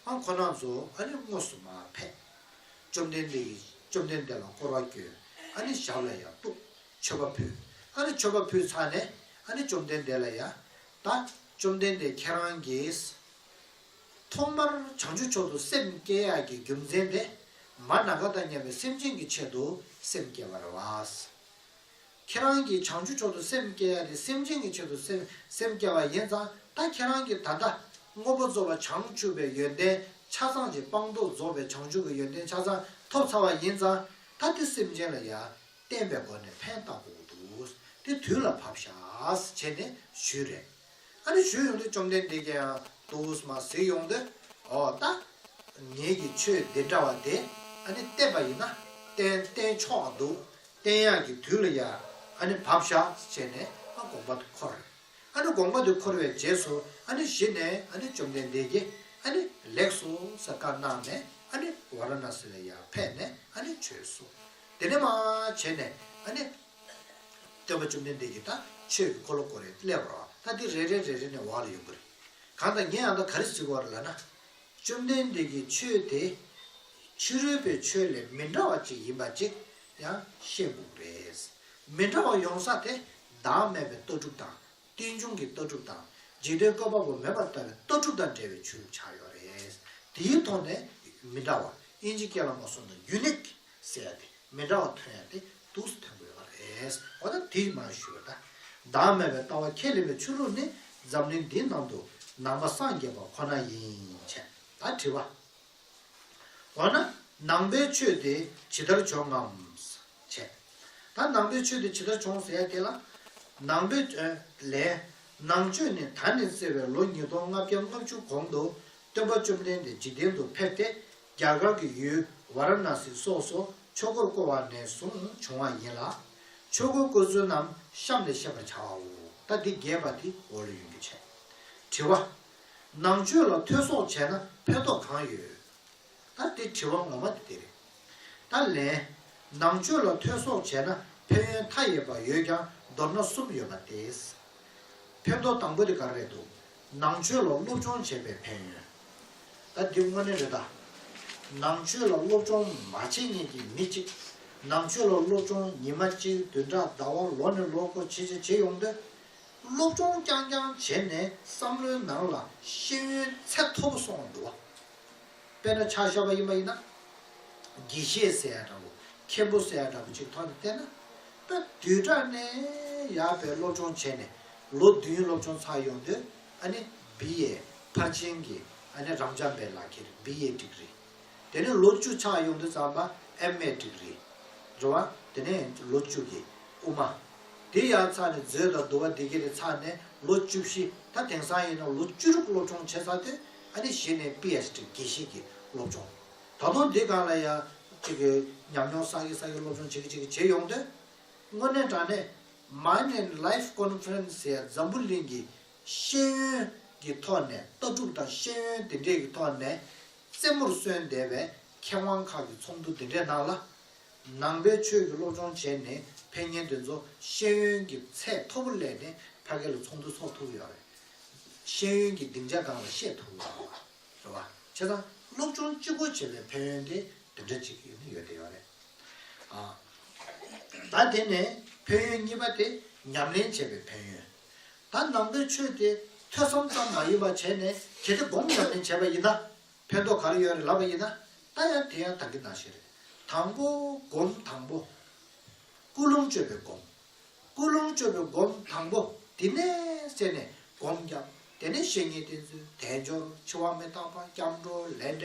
ཨང་ཁོ་ནག་ཚོ་ཨ་ནི་དངོས་སུ་མ་ཕེབས། བཅོམ་ལྡན་འདས་ཀྱིས་བཅོམ་ལྡན་འདས་ལ་བསྐོར་བ་བསྐྱོན་ཨ་ནི་ཞབས་ལ་ཡ་གཏུགས། མཆོད་པ་ཕུལ། ཨ་ནི་མཆོད་པ་ཕུལ་ཚར་ནས་ཨ་ནི་བཅོམ་ལྡན་འདས་ལ་ཡ། ད། བཅོམ་ལྡན་འདས་ཁྱེད་རང་གིས། ཐོག་མར་བྱང་ཆུབ་མཆོག་ཏུ་སེམས་བསྐྱེད་ཡ་གྱི་རྒྱུ་མཚན་དེ། མར་ནག་ག་དང་མཉམ་པའི་སེམས་ཅན་གྱི་ཆེད་དུ་སེམས་བསྐྱེད་པར་རེ་བ། ཁྱེད་རང་གིས་བྱང་ཆུབ་མཆོག་ཏུ་སེམས་བསྐྱེད་ཡ་དེ་སེམས་ཅན་གྱི་ཆེད་དུ་སེམས་བསྐྱེད་པ་ཡིན་ཙང་ད་ཁྱེད་རང་གིས་ད་ལྟ། དངོས་པོ་རྫོགས་པ་བྱང་ཆུབ་པའི་ཡོན་ཏན་ཆ་ཚང་གཅིག་སྤངས་རྟོགས་རྫོགས་པའི་བྱང་ཆུབ་ཀྱི་ཡོན་ཏན་ཆ་ཚང་ཐོབ་ཚར་བ་ཡིན་ཙང་ད་དེ་སེམས་ཅན་ལ་ཡ། བསྟན་པའི་སྒོ་ནས་ཕན་བཏགས་པོ་འདུག་དེ་དུས་ལ་བབ་ཤགས་བྱས་ནས་བཞུད་རེ་ཨ་རེ་བཞུད་ཡོང་དུས་བཅོམ་ལྡན་འདས་ཀྱིས་འདུག་མ་གཟིགས་ཡོང་དུས་འོ་ད་ངེད་ཀྱི་ཆོས་སྡེ་འདྲ་བ་དེ་ཨ་ནི་བསྟན་པ་ཡིན་ན་བསྟན་བསྟན་ཆོག་འདུག་བསྟན་གཡག་གི་དུས་ལ་ཡང་ཨ་ནི་བབ་ཤགས་བྱས་ནས་ཨ་དགོངས་པ་དུ་འཁོར་རེ་ཨ་ནི་དགོངས་པ་དུ་འཁོར་བའི་རྗེས་སུ་ཨ་ནི་གཞི་ནས་ཨ་ནི་བཅོམ་ལྡན་འདས་ཀྱིས་ཨ་ནི་ལེགས་སོ་ཟེར་བཀའ་གནང་ནས་ཨ་ནི་ཝཱ་ར་ན་སི་ལ་ཡང་ཕེབས་ནས་ཨ་ནི་ཆོས་སོ། དེ་ནས་མ་བྱས་ནས་ཨ་ནི། སྟོན་པ་བཅོམ་ལྡན་འདས་ཀྱིས་ད་ཆོས་ཀྱི་འཁོར་ལོ་བསྐོར་རེ་སླད་བར་བ་ད་དེ་རེ་རེ་རེ་རེ་ནས་བ་ལ་ཡོང་གི་རེ། གང་དང་ངས་ཨ་ད་ག་རེ་བྱེད་དགོས་བ་རེ་ལ་ན། བཅོམ་ལྡན་འདས་ཀྱིས་ཆོས་དེ། ཕྱི་རོལ་པའི་ཆོས་ལས་མི་འདྲ་བ་ཅིག་ཡིན་པ་ཅིག་ཡང་ཤེས་དགོས་ཀྱི་རེ། མི་འདྲ་བ་ཡོང་ས་དེ་བདག་མེད་པའི་ལྟ་གྲུབ་དང་རྟེན་འབྱུང་གི་ལྟ་གྲུབ་དང་འཇིག་རྟེན་བཀོད་པ་པོ་མེད་པར་ལྟ་བའི་ལྟ་གྲུབ་དང་འབྲེལ་བའི་ཆོས་ལུགས་ཆགས་ཡོད་རེ། དེའི་ཐོག་ནས་མི་འདྲ་བ་དབྱིན་ཇི་སྐད་ལ་མ་སོང་དང་ཡུ་ནིཀ། གསལ་ཡང་དེ་མི་འདྲ་བ་ཐོན་ཡང་དེ་དུག་གསུམ་ཐོན་དགོས་པ་རེད། འོ་ན་དེ་མ་ཞུས་པར་བདག་མེད་པའི་ལྟ་བ་ཁས་ལེན་པའི་ཆོས་ལུགས་ནི་འཛམ་གླིང་འདིའི་ནང་དུ་ནང་པ་སངས་རྒྱས་པ་ཁོ་ན་ཡིན་ཆད་ད་དྲི་བ། འོ་ན་ནང་པའི་ཆོས་དེ་ཇི་ལྟར་བྱུང་ངམ། ཆད་ད་ནང་པའི་ཆོས་དེ་ཇི་ལྟར་བྱུང་ཟེར་ཡ་དེ་ལ། ནང་པའི། ལན། ནང་ཆོས་ནི་ད་ནས་བརྩེ་བའི་ལོ་ཉིས་སྟོང་ལྔ་བརྒྱ་ལྔ་བཅུ་གོང་དུ་སྟོན་པ་བཅོམ་ལྡན་འདས་འཇིག་རྟེན་དུ་ཕེབས་ཏེ་རྒྱ་གར་གྱི་ཡུལ་ཝཱ་ར་ཎཱ་སི་སོགས་སུ་ཆོས་འཁོར་བསྐོར་བ་ནས་བཟུང་བྱུང་བ་ཡིན་ལ། ཆོས་འཁོར་བསྐོར་ཚུལ་རྣམས་གཤམ་ལས་ཤེས་པར་བྱ་བའོ། ད་འདི་རྒྱས་པ་འདི་འོག་ལས་ཡོན་གྱིས་འཆད། དྲི་བ། ནང་ཆོས་ལ་ཐོས་སོགས་བྱས་ན་ཕན་ཐོགས་གང་ཡོད། ད་འདི་དྲི་བ་ངོ་མ་དེ་རེད། ད་ལན། ནང་ཆོས་ལ་ཐོས་སོགས་བྱས་ན་ཕན་ཡོན་མཐའ་ཡས་པ་ཡོད་ཀྱང་མདོར་ན་གསུམ་ཡོད་པ་སྟེ། ཕན་ཐོགས་དང་པོ་དེ་ག་རེ་རེད་དོ། ནང་ཆོས་ལ་སློབ་སྦྱོང་བྱས་པའི་ཕན་ཡོན། ད་འདི་དངོས་གནས་རེད་ད། ནང་ཆོས་ལ་སློབ་སྦྱོང་མ་བྱེད་ངེས་ཀྱི་མི་གཅིག་ནང་ཆོས་ལ་སློབ་སྦྱོང་ཉི་མ་གཅིག་བདུན་ཕྲག་ཟླ་བ་ལོ་ནས་ལོ་འཁོར་བྱེད་བྱེད་བྱེད་ཡོང་དུས། སློབ་སྦྱོང་རྐྱང་རྐྱང་བྱས་ནས་བསམ་བློའི་ནང་ལ་ཤེས་ཡོན་ཚད་མཐོ་པོ་སོང་བ་འདུག་བ། དཔེར་ན་ཕྱག་ཞབས་པ་ཡིན་པ་ཡིན་ན། དགེ་བཤེས་ཟེར་ཡ་འདྲ་བོ་མཁན་པོ་ཟེར་ཡ་འདྲ་བོ་གཅིག་ཐོག་ནས་བསྟེན་ན། ད་དུས་དྲག་གནས་ཡག་པའི་སློབ་སྦྱོང་བྱས་ནས་ལོ་བདུན་སློབ་ཆུང་ཚར་ཡོང་དུས་ཨ་ནེ་བི་ཡའི་ཕར་ཕྱིན་གྱི་ཨ་ནེ་རང་འཇམ་པའི་ལག་ཁྱེར་བི་ཡའི་སྒྲིག་རི། དེ་ནས་ལོ་བཅུ་ཆགས་ཡོང་དུས་རྩམ་པ་ཨེམ་མའི་སྒྲིག་རི། འགྲོ་བ་དེ་ནས་ལོ་བཅུ་གྱི་དབུ་མ། དེ་ཡར་ཚར་ནས་མཛོད་དང་བསྡུ་བ་འདི་ག་རེ་ཚར་ནས་ལོ་བཅུ་བཞི་ད་དེང་སང་ཡིན་ན་ལོ་བཅུ་དྲུག་སློབ་ཆུང་བྱས་ཚར་དུས་ཨ་ནེ་བཞི་ནས་པི་ཨེས་སྒྲིག་དགེ་བཤེས་ཀྱི་སློབ་ཆུང། ད་དུང་འདི་ག་ལ་ཡང་ཅིག་ཉམས་མྱོང་བསགས་ཀྱི་བསགས་ཀྱི་སློབ་ཆུང་བྱེད་ཀྱི་བྱེད་ཀྱི་བྱེད་ཡོང་དུས། དངོས་གནས་དྲང་གནས Mind and Life Conference ཡ་འཛམ་བུ་གླིང་གི་ཤེས་ཡོན་གྱི་ཐོག་ནས་ལྟ་གྲུབ་དང་ཤེས་ཡོན་དེ་འདྲས་ཀྱི་ཐོག་ནས་རྩེ་མོར་གསོན་བསྡད་པའི་མཁས་དབང་ཁག་གི་ཚོགས་འདུ་དེ་འདྲའི་ནང་ལ། ནང་པའི་ཆོས་ཀྱི་སློབ་སྦྱོང་བྱས་ནས་ཕན་ངན་དེ་ཚོ་ཤེས་ཡོན་གྱི་ཚད་མཐོ་པོ་སླེབས་ནས་ཕ་གི་ལ་ཚོགས་འདུ་ཚོགས་ཐུབ་ཡོད་རེད། ཤེས་ཡོན་གྱི་སྡིངས་ཆ་གང་ལ་བཤད་ཐུབ་ཡོད་རེད། བཟོ་བ་བྱས་ཙང་སློབ་ཆུང་སྤྱི་སྒོ་འབྱེད་པའི་ཕན་ཡོན་དེ་འདི་འདྲ་གཅིག་ཡོད་ནི་ཡོད་བསྡད་ཡོད་རེད། ད་དེ་ནས་ཕན་ཡོན་གཉིས་པ་དེ་ཉམས་ལེན་བྱས་པའི་ཕན་ཡོན། ད་ནང་པའི་ཆོས་དེ་ཐོས་བསམ་ཙམ་མ་ཡིན་པ་བྱས་ནས་གལ་ཏེ་སྒོམ་ཉམས་ལེན་བྱས་པ་ཡིན་ན་ཕན་ཐོགས་ག་རེ་ཡོད་རེད་ལབ་པ་ཡིན་ན་ད་ཡང་དེ་ཡང་དག་གི་ནང་བཞིན་རེད། དང་པོ་སྒོམ་དང་པོ། ཀུན་སློང་སྤྱོད་པའི་སྒོམ། ཀུན་སློང་བཅོ་བའི་སྒོམ་དང་པོ་དེ་ནས་བསལ་ནས་སྒོམ་བརྒྱབ། དེ་ནས་བཤེས་གཉེན་བསྟེན་ཚུལ་དལ་འབྱོར་འཆི་བ་མི་རྟག་པ་སྐྱབས་འགྲོ་ལས་འབྲས་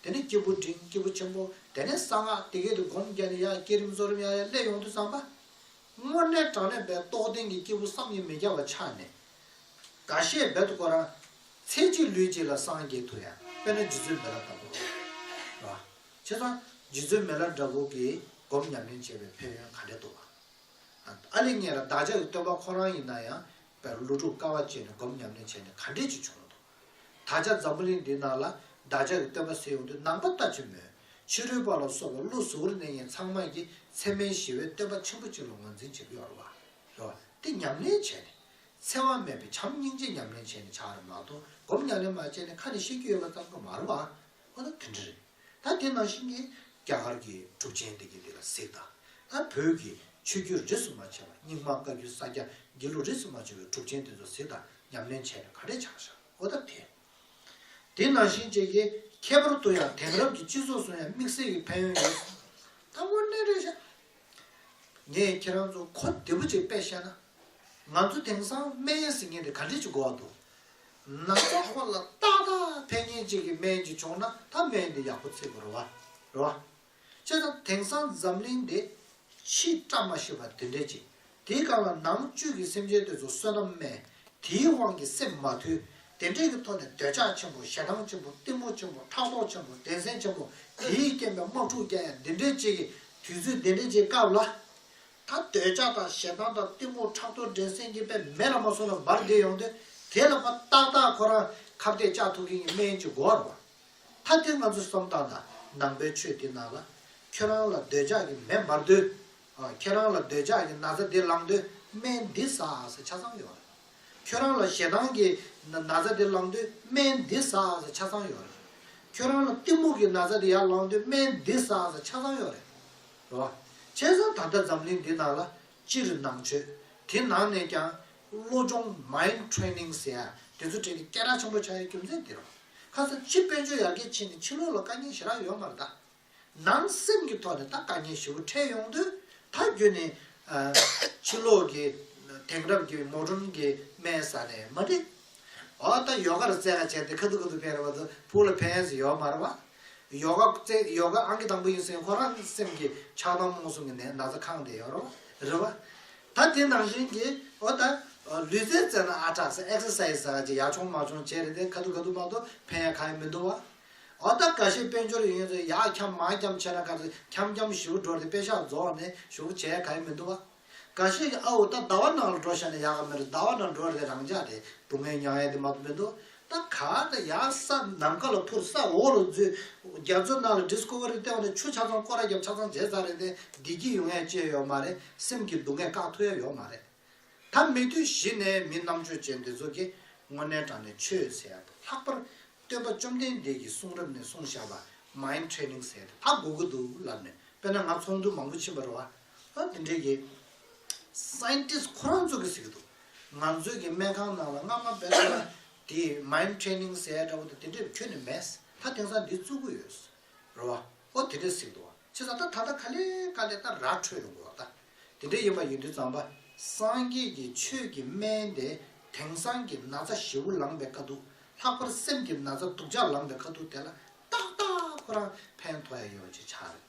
དེ་ནས་སྐྱེས་བུ་འབྲིང་སྐྱེས་བུ་ཆེན་པོ་དེ་ནས་གསང་སྔགས་དེ་སྐད་དུ་སྒོམ་བརྒྱབ་ནས་ཡ་བསྐྱེད་རིམ་རྫོགས་རིམ་ཡ་ཡ་སླད་ཡོངས་འདུ་བསམ་པ། སྔོན་གནས་དྲང་གནས་པའི་རྟོགས་ལྡན་གྱི་སྐྱེས་བུ་བསམ་ཡས་མི་བརྒྱ་བ་ཆགས་ནས། འགའ་ཤས་རྦད་དུ་བསྐོར། ཚེ་གཅིག་ལུས་གཅིག་ལ་སངས་རྒྱས་ཐུགས་ཡངས་དཔལ་ནི་རྗེ་བཙུན་མེ་ལ་དང་པོ་རེད། བྱས་ཙང་རྗེ་བཙུན་མེ་ལ་འདྲ་བོ་གིས་སྒོམ་ཉམས་ལེན་བྱས་པའི་ཕན་ཡོན་ག་འདྲས་འདུག་ཨང། ཨ་ལེ་ངས་ལ་བདག་ཅག་གི་སྟོན་པ་ཁོ་རང་ཡིན་ན་ཡང་བེ་རོ་ཀླུ་ཕྲུག་དཀའ་བ་སྤྱད་ནས་སྒོམ་ཉམས་ལེན་བྱས་ནས་ག་འདྲས་ཅིག་བྱུང་འདུག་ད་ཆ་འཛམ་བུ་གླིང་འདིའི་ནང་ལ་བདག་ཅག་གི་སྟོན་པ་ཟེར་ཡོང་དུས་ནང་པ་ལྟ་ཅི་སྨོས། ཕྱི་རོལ་པ་ལ་སོགས་པ་བློ་གཟུ་བོར་གནས་ངན་ཚང་མ་ཡི་ཚད་མའི་ཞི་བའི་སྟོན་པ་ཆེན་པོ་གཅིག་ལ་ངོས་འཛིན་བྱེད་ཀྱི་ཡོད་རེད་བ། རེད་བ། དེ་ཉམས་ལེན་བྱས་ནས། འཚེ་བ་མེད་པའི་བྱམས་སྙིང་རྗེ་ཉམས་ལེན་བྱས་ནས་ཆགས་རེད་མ་གཏོགས་སྒོམ་ཉམས་ལེན་མ་བྱས་ནས་ཁ་ནས་བཤད་རྒྱུ་ཡོད་པ་ཙམ་གྱི་མ་རེད་བ། འོ་ན་དེ་འདྲ་རེད། ད་དེ་ནང་བཞིན་གྱི། རྒྱ་གར་གྱི་གྲུབ་ཆེན་དེ་གྱིས་འདི་ལ་གཟིགས་དང། ཨ་བོད་ཀྱི་ཆོས་བརྒྱུད་རིས་སུ་མ་ཕྱེ་བ་རྙིང་མ་བཀའ་བརྒྱུད་ས་སྐྱ་རྒྱལ་ལུགས་རིས་སུ་མ་ཕྱེ་བའི་གྲུབ་ཆེན་དེ་ཚོ་གཟིགས་དང་ཉམས་ལེན་བྱས་ནས་ག་རེ་བྱ་བཞག་གོ་ད་དེ། དེ་ནང་བཞིན་བཅས་ཀྱི་ཁྱད་པར་དུ་ཡང་དེང་རབས་ཀྱི་སྤྱི་ཚོགས་སུ་ཡང་དམིགས་བསལ་གྱི་ཕན་ཡོན་ཡོད་སྲིད། ད་དངོས་གནས་རེད་བཤད། ངས་ཁྱེད་རང་ཚོ་གོ་བདེ་པོ་ཅིག་དཔེ་བཤད་ན། ང་ཚོ་དེང་སང་སྨན་ཡེ་ཟེར་མཁན་དེ་ག་འདྲས་ཀྱི་མགོ་བ་འདུག་ནག་ཚོགས་དཀོན་ལ་རྟག་ད་ཕན་ཉིན་གཅིག་གི་སྨན་གྱི་བྱུང་ན་ད་སྨན་འདི་ཡག་པོ་ཚིག་གོ་རོ་བ། རོ་བ། ཅེ་ན་དེང་སང་འཛམ་གླིང་འདི་ཕྱི་བཀྲ་མ་ཤིས་པ་དེ་འདྲས་ཅིག་དེའི་སྒང་ལ་ནང་བཅུད་ཀྱི་སེམས་ཅན་དེ་ཚོ་བསོད་ནམས་དམན་དེའི་དབང་གིས་སེམས་མ་དུལ་དེ་འདྲས་ཀྱི་ཐོག་ནས་འདོད་ཆགས་ཆེན་པོ་ཞེ་སྡང་ཆེན་པོ་གཏི་མུག་ཆེན་པོ་ཕྲག་དོག་ཆེན་པོ་བདེན་སེམས་ཆེན་པོ་དེའི་རྐྱེན་པས་དམག་འཁྲུག་རྐྱང་ཡང་འདི་འདྲས་ཅིག་གི་དུས་ཚོད་འདི་འདྲས་ཅིག་སྐབས་ལ། ད་འདོད་ཆགས་དང་ཞེ་སྡང་དང་གཏི་མུག་ཕྲག་དོག་འགྲན་སེམས་ཀྱི་པད་མེ་ལ་མ་སོང་ན་འབར་འདེད་ཡོང་དུས་དེ་ལ་པ་ཏག་ཏག་ཁོ་རང་ཁ་བརྡས་ལྕགས་ཐུག་གིང་གི་སྨན་གྱི་མགོ་བར་བར། ད་དེ་ང་ཚོ་བསམ་སྟངས་དང་ནང་པའི་ཆོས་འདི་ནང་ལ། ཁྱོད་རང་ལ་འདོད་ཆགས་ཀྱི་མེ་འབར་དུས། ཁྱེད་རང་ལ་འདོད་ཆགས་ཀྱི་ན་ཚ་འདི་བླངས་དུས་སྨན་འདི་ཟ་ཨ་ཟ་ཆ་ཚང་ཡོང་རེད། ཁྱོད་རང་ལ་ཞེ་སྡང་གི་ན་ཚ་འདི་བླངས་དུས་སྨན་འདི་ཟ་ཨ་ཟ་ཆ་ཚང་ཡོང་རེད། ཁྱོད་རང་ལ་གཏི་མུག་གི་ན་ཚ་འདི་ཡར་བླངས་དུས་སྨན་འདི་ཟ་ཨ་ཟ་ཆ་ཚང་ཡོང་རེད། ལ། བྱས་ཙང་ད་ལྟ་འཛམ་གླིང་འདི་ན་ལ་སྤྱིར་ནང་ཆོས་དེ་ནང་ནས་ཀྱང་བློ་སྦྱོང Mind Training ཟེར་ཡ་དེ་ཚོ་བྲལ་ནས་སྐད་གྲགས་ཆེན་པོ་ཆགས་ཡའི་རྒྱུ་མཚན་དེ་རེད། ཁ་སང་སྤྱིར་དཔལ་འབྱོར་ཡར་རྒྱས་ཕྱིན་ནས་ཕྱི་ལོག་ལ་དཀའ་ངལ་ཞེ་དྲག་ཡོད་མ་རེད་ད། ནང་སེམས་ཀྱི་ཐོག་ནས་ད་དཀའ་ངལ་བཞི་བོ་འཕྲད་ཡོང་དུས་ད་རྒྱུན་ནས་ཕྱི་ལོག་གི་དེང་རབས་ཀྱི Modern གི་དམན་ས་ནས་མ་འདྲེས། ཨོ་ད་ཡོ་ག་རུ་རྩེ་ག་བྱས་ཏེ་ཁ་ཐུག་ཁ་ཐུག་ཕན་རེ་བ་དུ་ཕུག་ལ་ཕན་ཡོད་ཟེར་ཡོག་མ་རེ་བ། ཡོ་ག་རྩེ་ཡོ་ག་ཨང་ཀི་དང་པོ་ཡིན་སེང་ཁོ་རང་སེམས་ཀྱི་ཆགས་སྡང་རྨོངས་གསུམ་གྱི་ནད་ན་ཚ་ཁང་བསྡད་ཡོག་རོ་རེ་བ། ད་དེ་ནང་བཞིན་གྱི་ཨོ་ད་ལུས་རྩལ་རྩེ་ན་ཨ་དྲག་སེ Exercise ཟ་ག་ཅིག་ཡག་བྱུང་མ་བྱུང་བྱས་རེ་ཏེ་ཁ་ཐུག་ཁ་ཐུག་མ་ཏོག་ཕན་ཡ་ག་ཡ་མི་འདུག་བ། ཨོ་ད་ག་ཤེད་དཔལ་འབྱོར་ཡོད་ཡོད་ཚོ་ཡག་འཁྱམ་མ་འཁྱམ་ཆེ་ན་ག་ཚོད་འཁྱམ་འཁྱམ་བཞུགས་འགྲོ་རེ་ཏེ་དཔེ་ཤག་རྫོགས་ནས་བཞུགས་བྱས་ཡ་ག་ཡ་མི་འདུག་བ། ག་ཤེད་ཀྱི་ཨ་འོ་ད་ཟླ་བ་ནང་ལ་འགྲོ་བཤད་ན་ཡག་ག་མེད་རེད་ཟླ་བ་ནང་འགྲོ་རེད་རང་ཅག་དེ་སྡུག་བསྔལ་མྱངས་ཡས་དེ་མ་གཏོགས་མི་འདུག་ད་ག་ད་ཡག་ས་ནམ་མཁའ་ལ་འཕུར་ས་འོག་ལ་འཛུལ་རྒྱ་མཚོ་ནང་ལ Discovery བལྟས་བ་ནི་ཆུ་ཆ་ཚང་ཀོ་ར་རྒྱབ་ཆ་ཚང་བྱས་ཚར་རེད་དེ་བདེ་སྐྱིད་ཡོང་ཡས་ཅེས་ཡོག་མ་རེད་སེམས་ཀྱི་སྡུག་བསྔལ་བཀག་ཐུབ་ཡས་ཡོག་མ་རེད་ད་མི་དུས་བཞི་ནས་མི་རྣམ་དཔྱོད་ཅན་འདི་ཚོ་གིས་དངོས་གནས་དྲང་ནས་ཆོས་ཟེར་ཡ་དང་ལྷག་པར་སྟོན་པ་བཅོམ་ལྡན་འདས་ཀྱིས་གསུང་རབ་ནས་གསུང་བཞག་པ Mind Training ཟེར་དེ་དག་གོ་གི་འདུག་ལབ་ནས་དཔེ་ན་ང་ཚོང་དུད་མང་པོ་ཕྱིན་པ་རེད་བ། ཨ་དེ་འདྲའི་གི། Scientist ཁོ་རང་ཚོ་གི་ཟེར་གི་འདུག། ང་ཚོའི་གི་སྨན་ཁང་ནང་ལ་སྔ་མ་བེད་སྤྱོད་ལ། དེ Mind Training ཟེར་ཡ་འདྲ་བོ་དེ་དེ་འདྲའི་ཁྱོན་ནས་མེད། ད་དེང་སང་འདི་བཙུགས་གི་ཡོད། རེད་བ། ཨོ་དེ་འདྲའི་ཟེར་གི་འདུག་བ། བྱས་ཙང་ད་ད་ལྟ་ག་ལེ་ག་ལེ་ད་ར་འཕྲོད་ཡོང་དགོས་བ་ད། དེ་འདྲའི་ཡིན་པ་ཡིན་དུས་ཙང་པ། སངས་རྒྱས་ཀྱི་ཆོས་ཀྱི་སྨན་དེ་དེང་སང་གི་ན་ཚ་ཞེ་བོ་ལངས་པའི་དཀའ་སྡུག། ལྷག་པར་སེམས་ཀྱི་ན་ཚ་སྡུག་ཅག་ལངས་པའི་དཀའ་སྡུག་དེ་ལ་ཏག་ཏག་ཁོ་རང་ཕན་ཐོགས་ཡ་ཡོད་ཅེས་ཆ་རེད།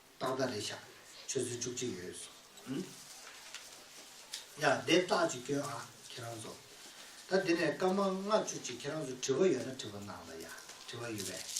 རྟགས་ཟླ་རེ་ཆགས་ཡོད། ཆུ་ཚོད་བཅུ་གཅིག་ཡོད་སོང། ཡ། དེབ་རྟགས་ཅིག་སྐྱོན་ཨ། ཁྱེད་རང་ཚོ། ད་འདི་ནས་སྐར་མ་ལྔ་བཅུ་ཅིག་ཁྱེད་རང་ཚོ་དྲི་བ་ཡོད་ན་དྲི་བ་གནང་ད་ཡ། དྲི་བ་ཡོད་པས།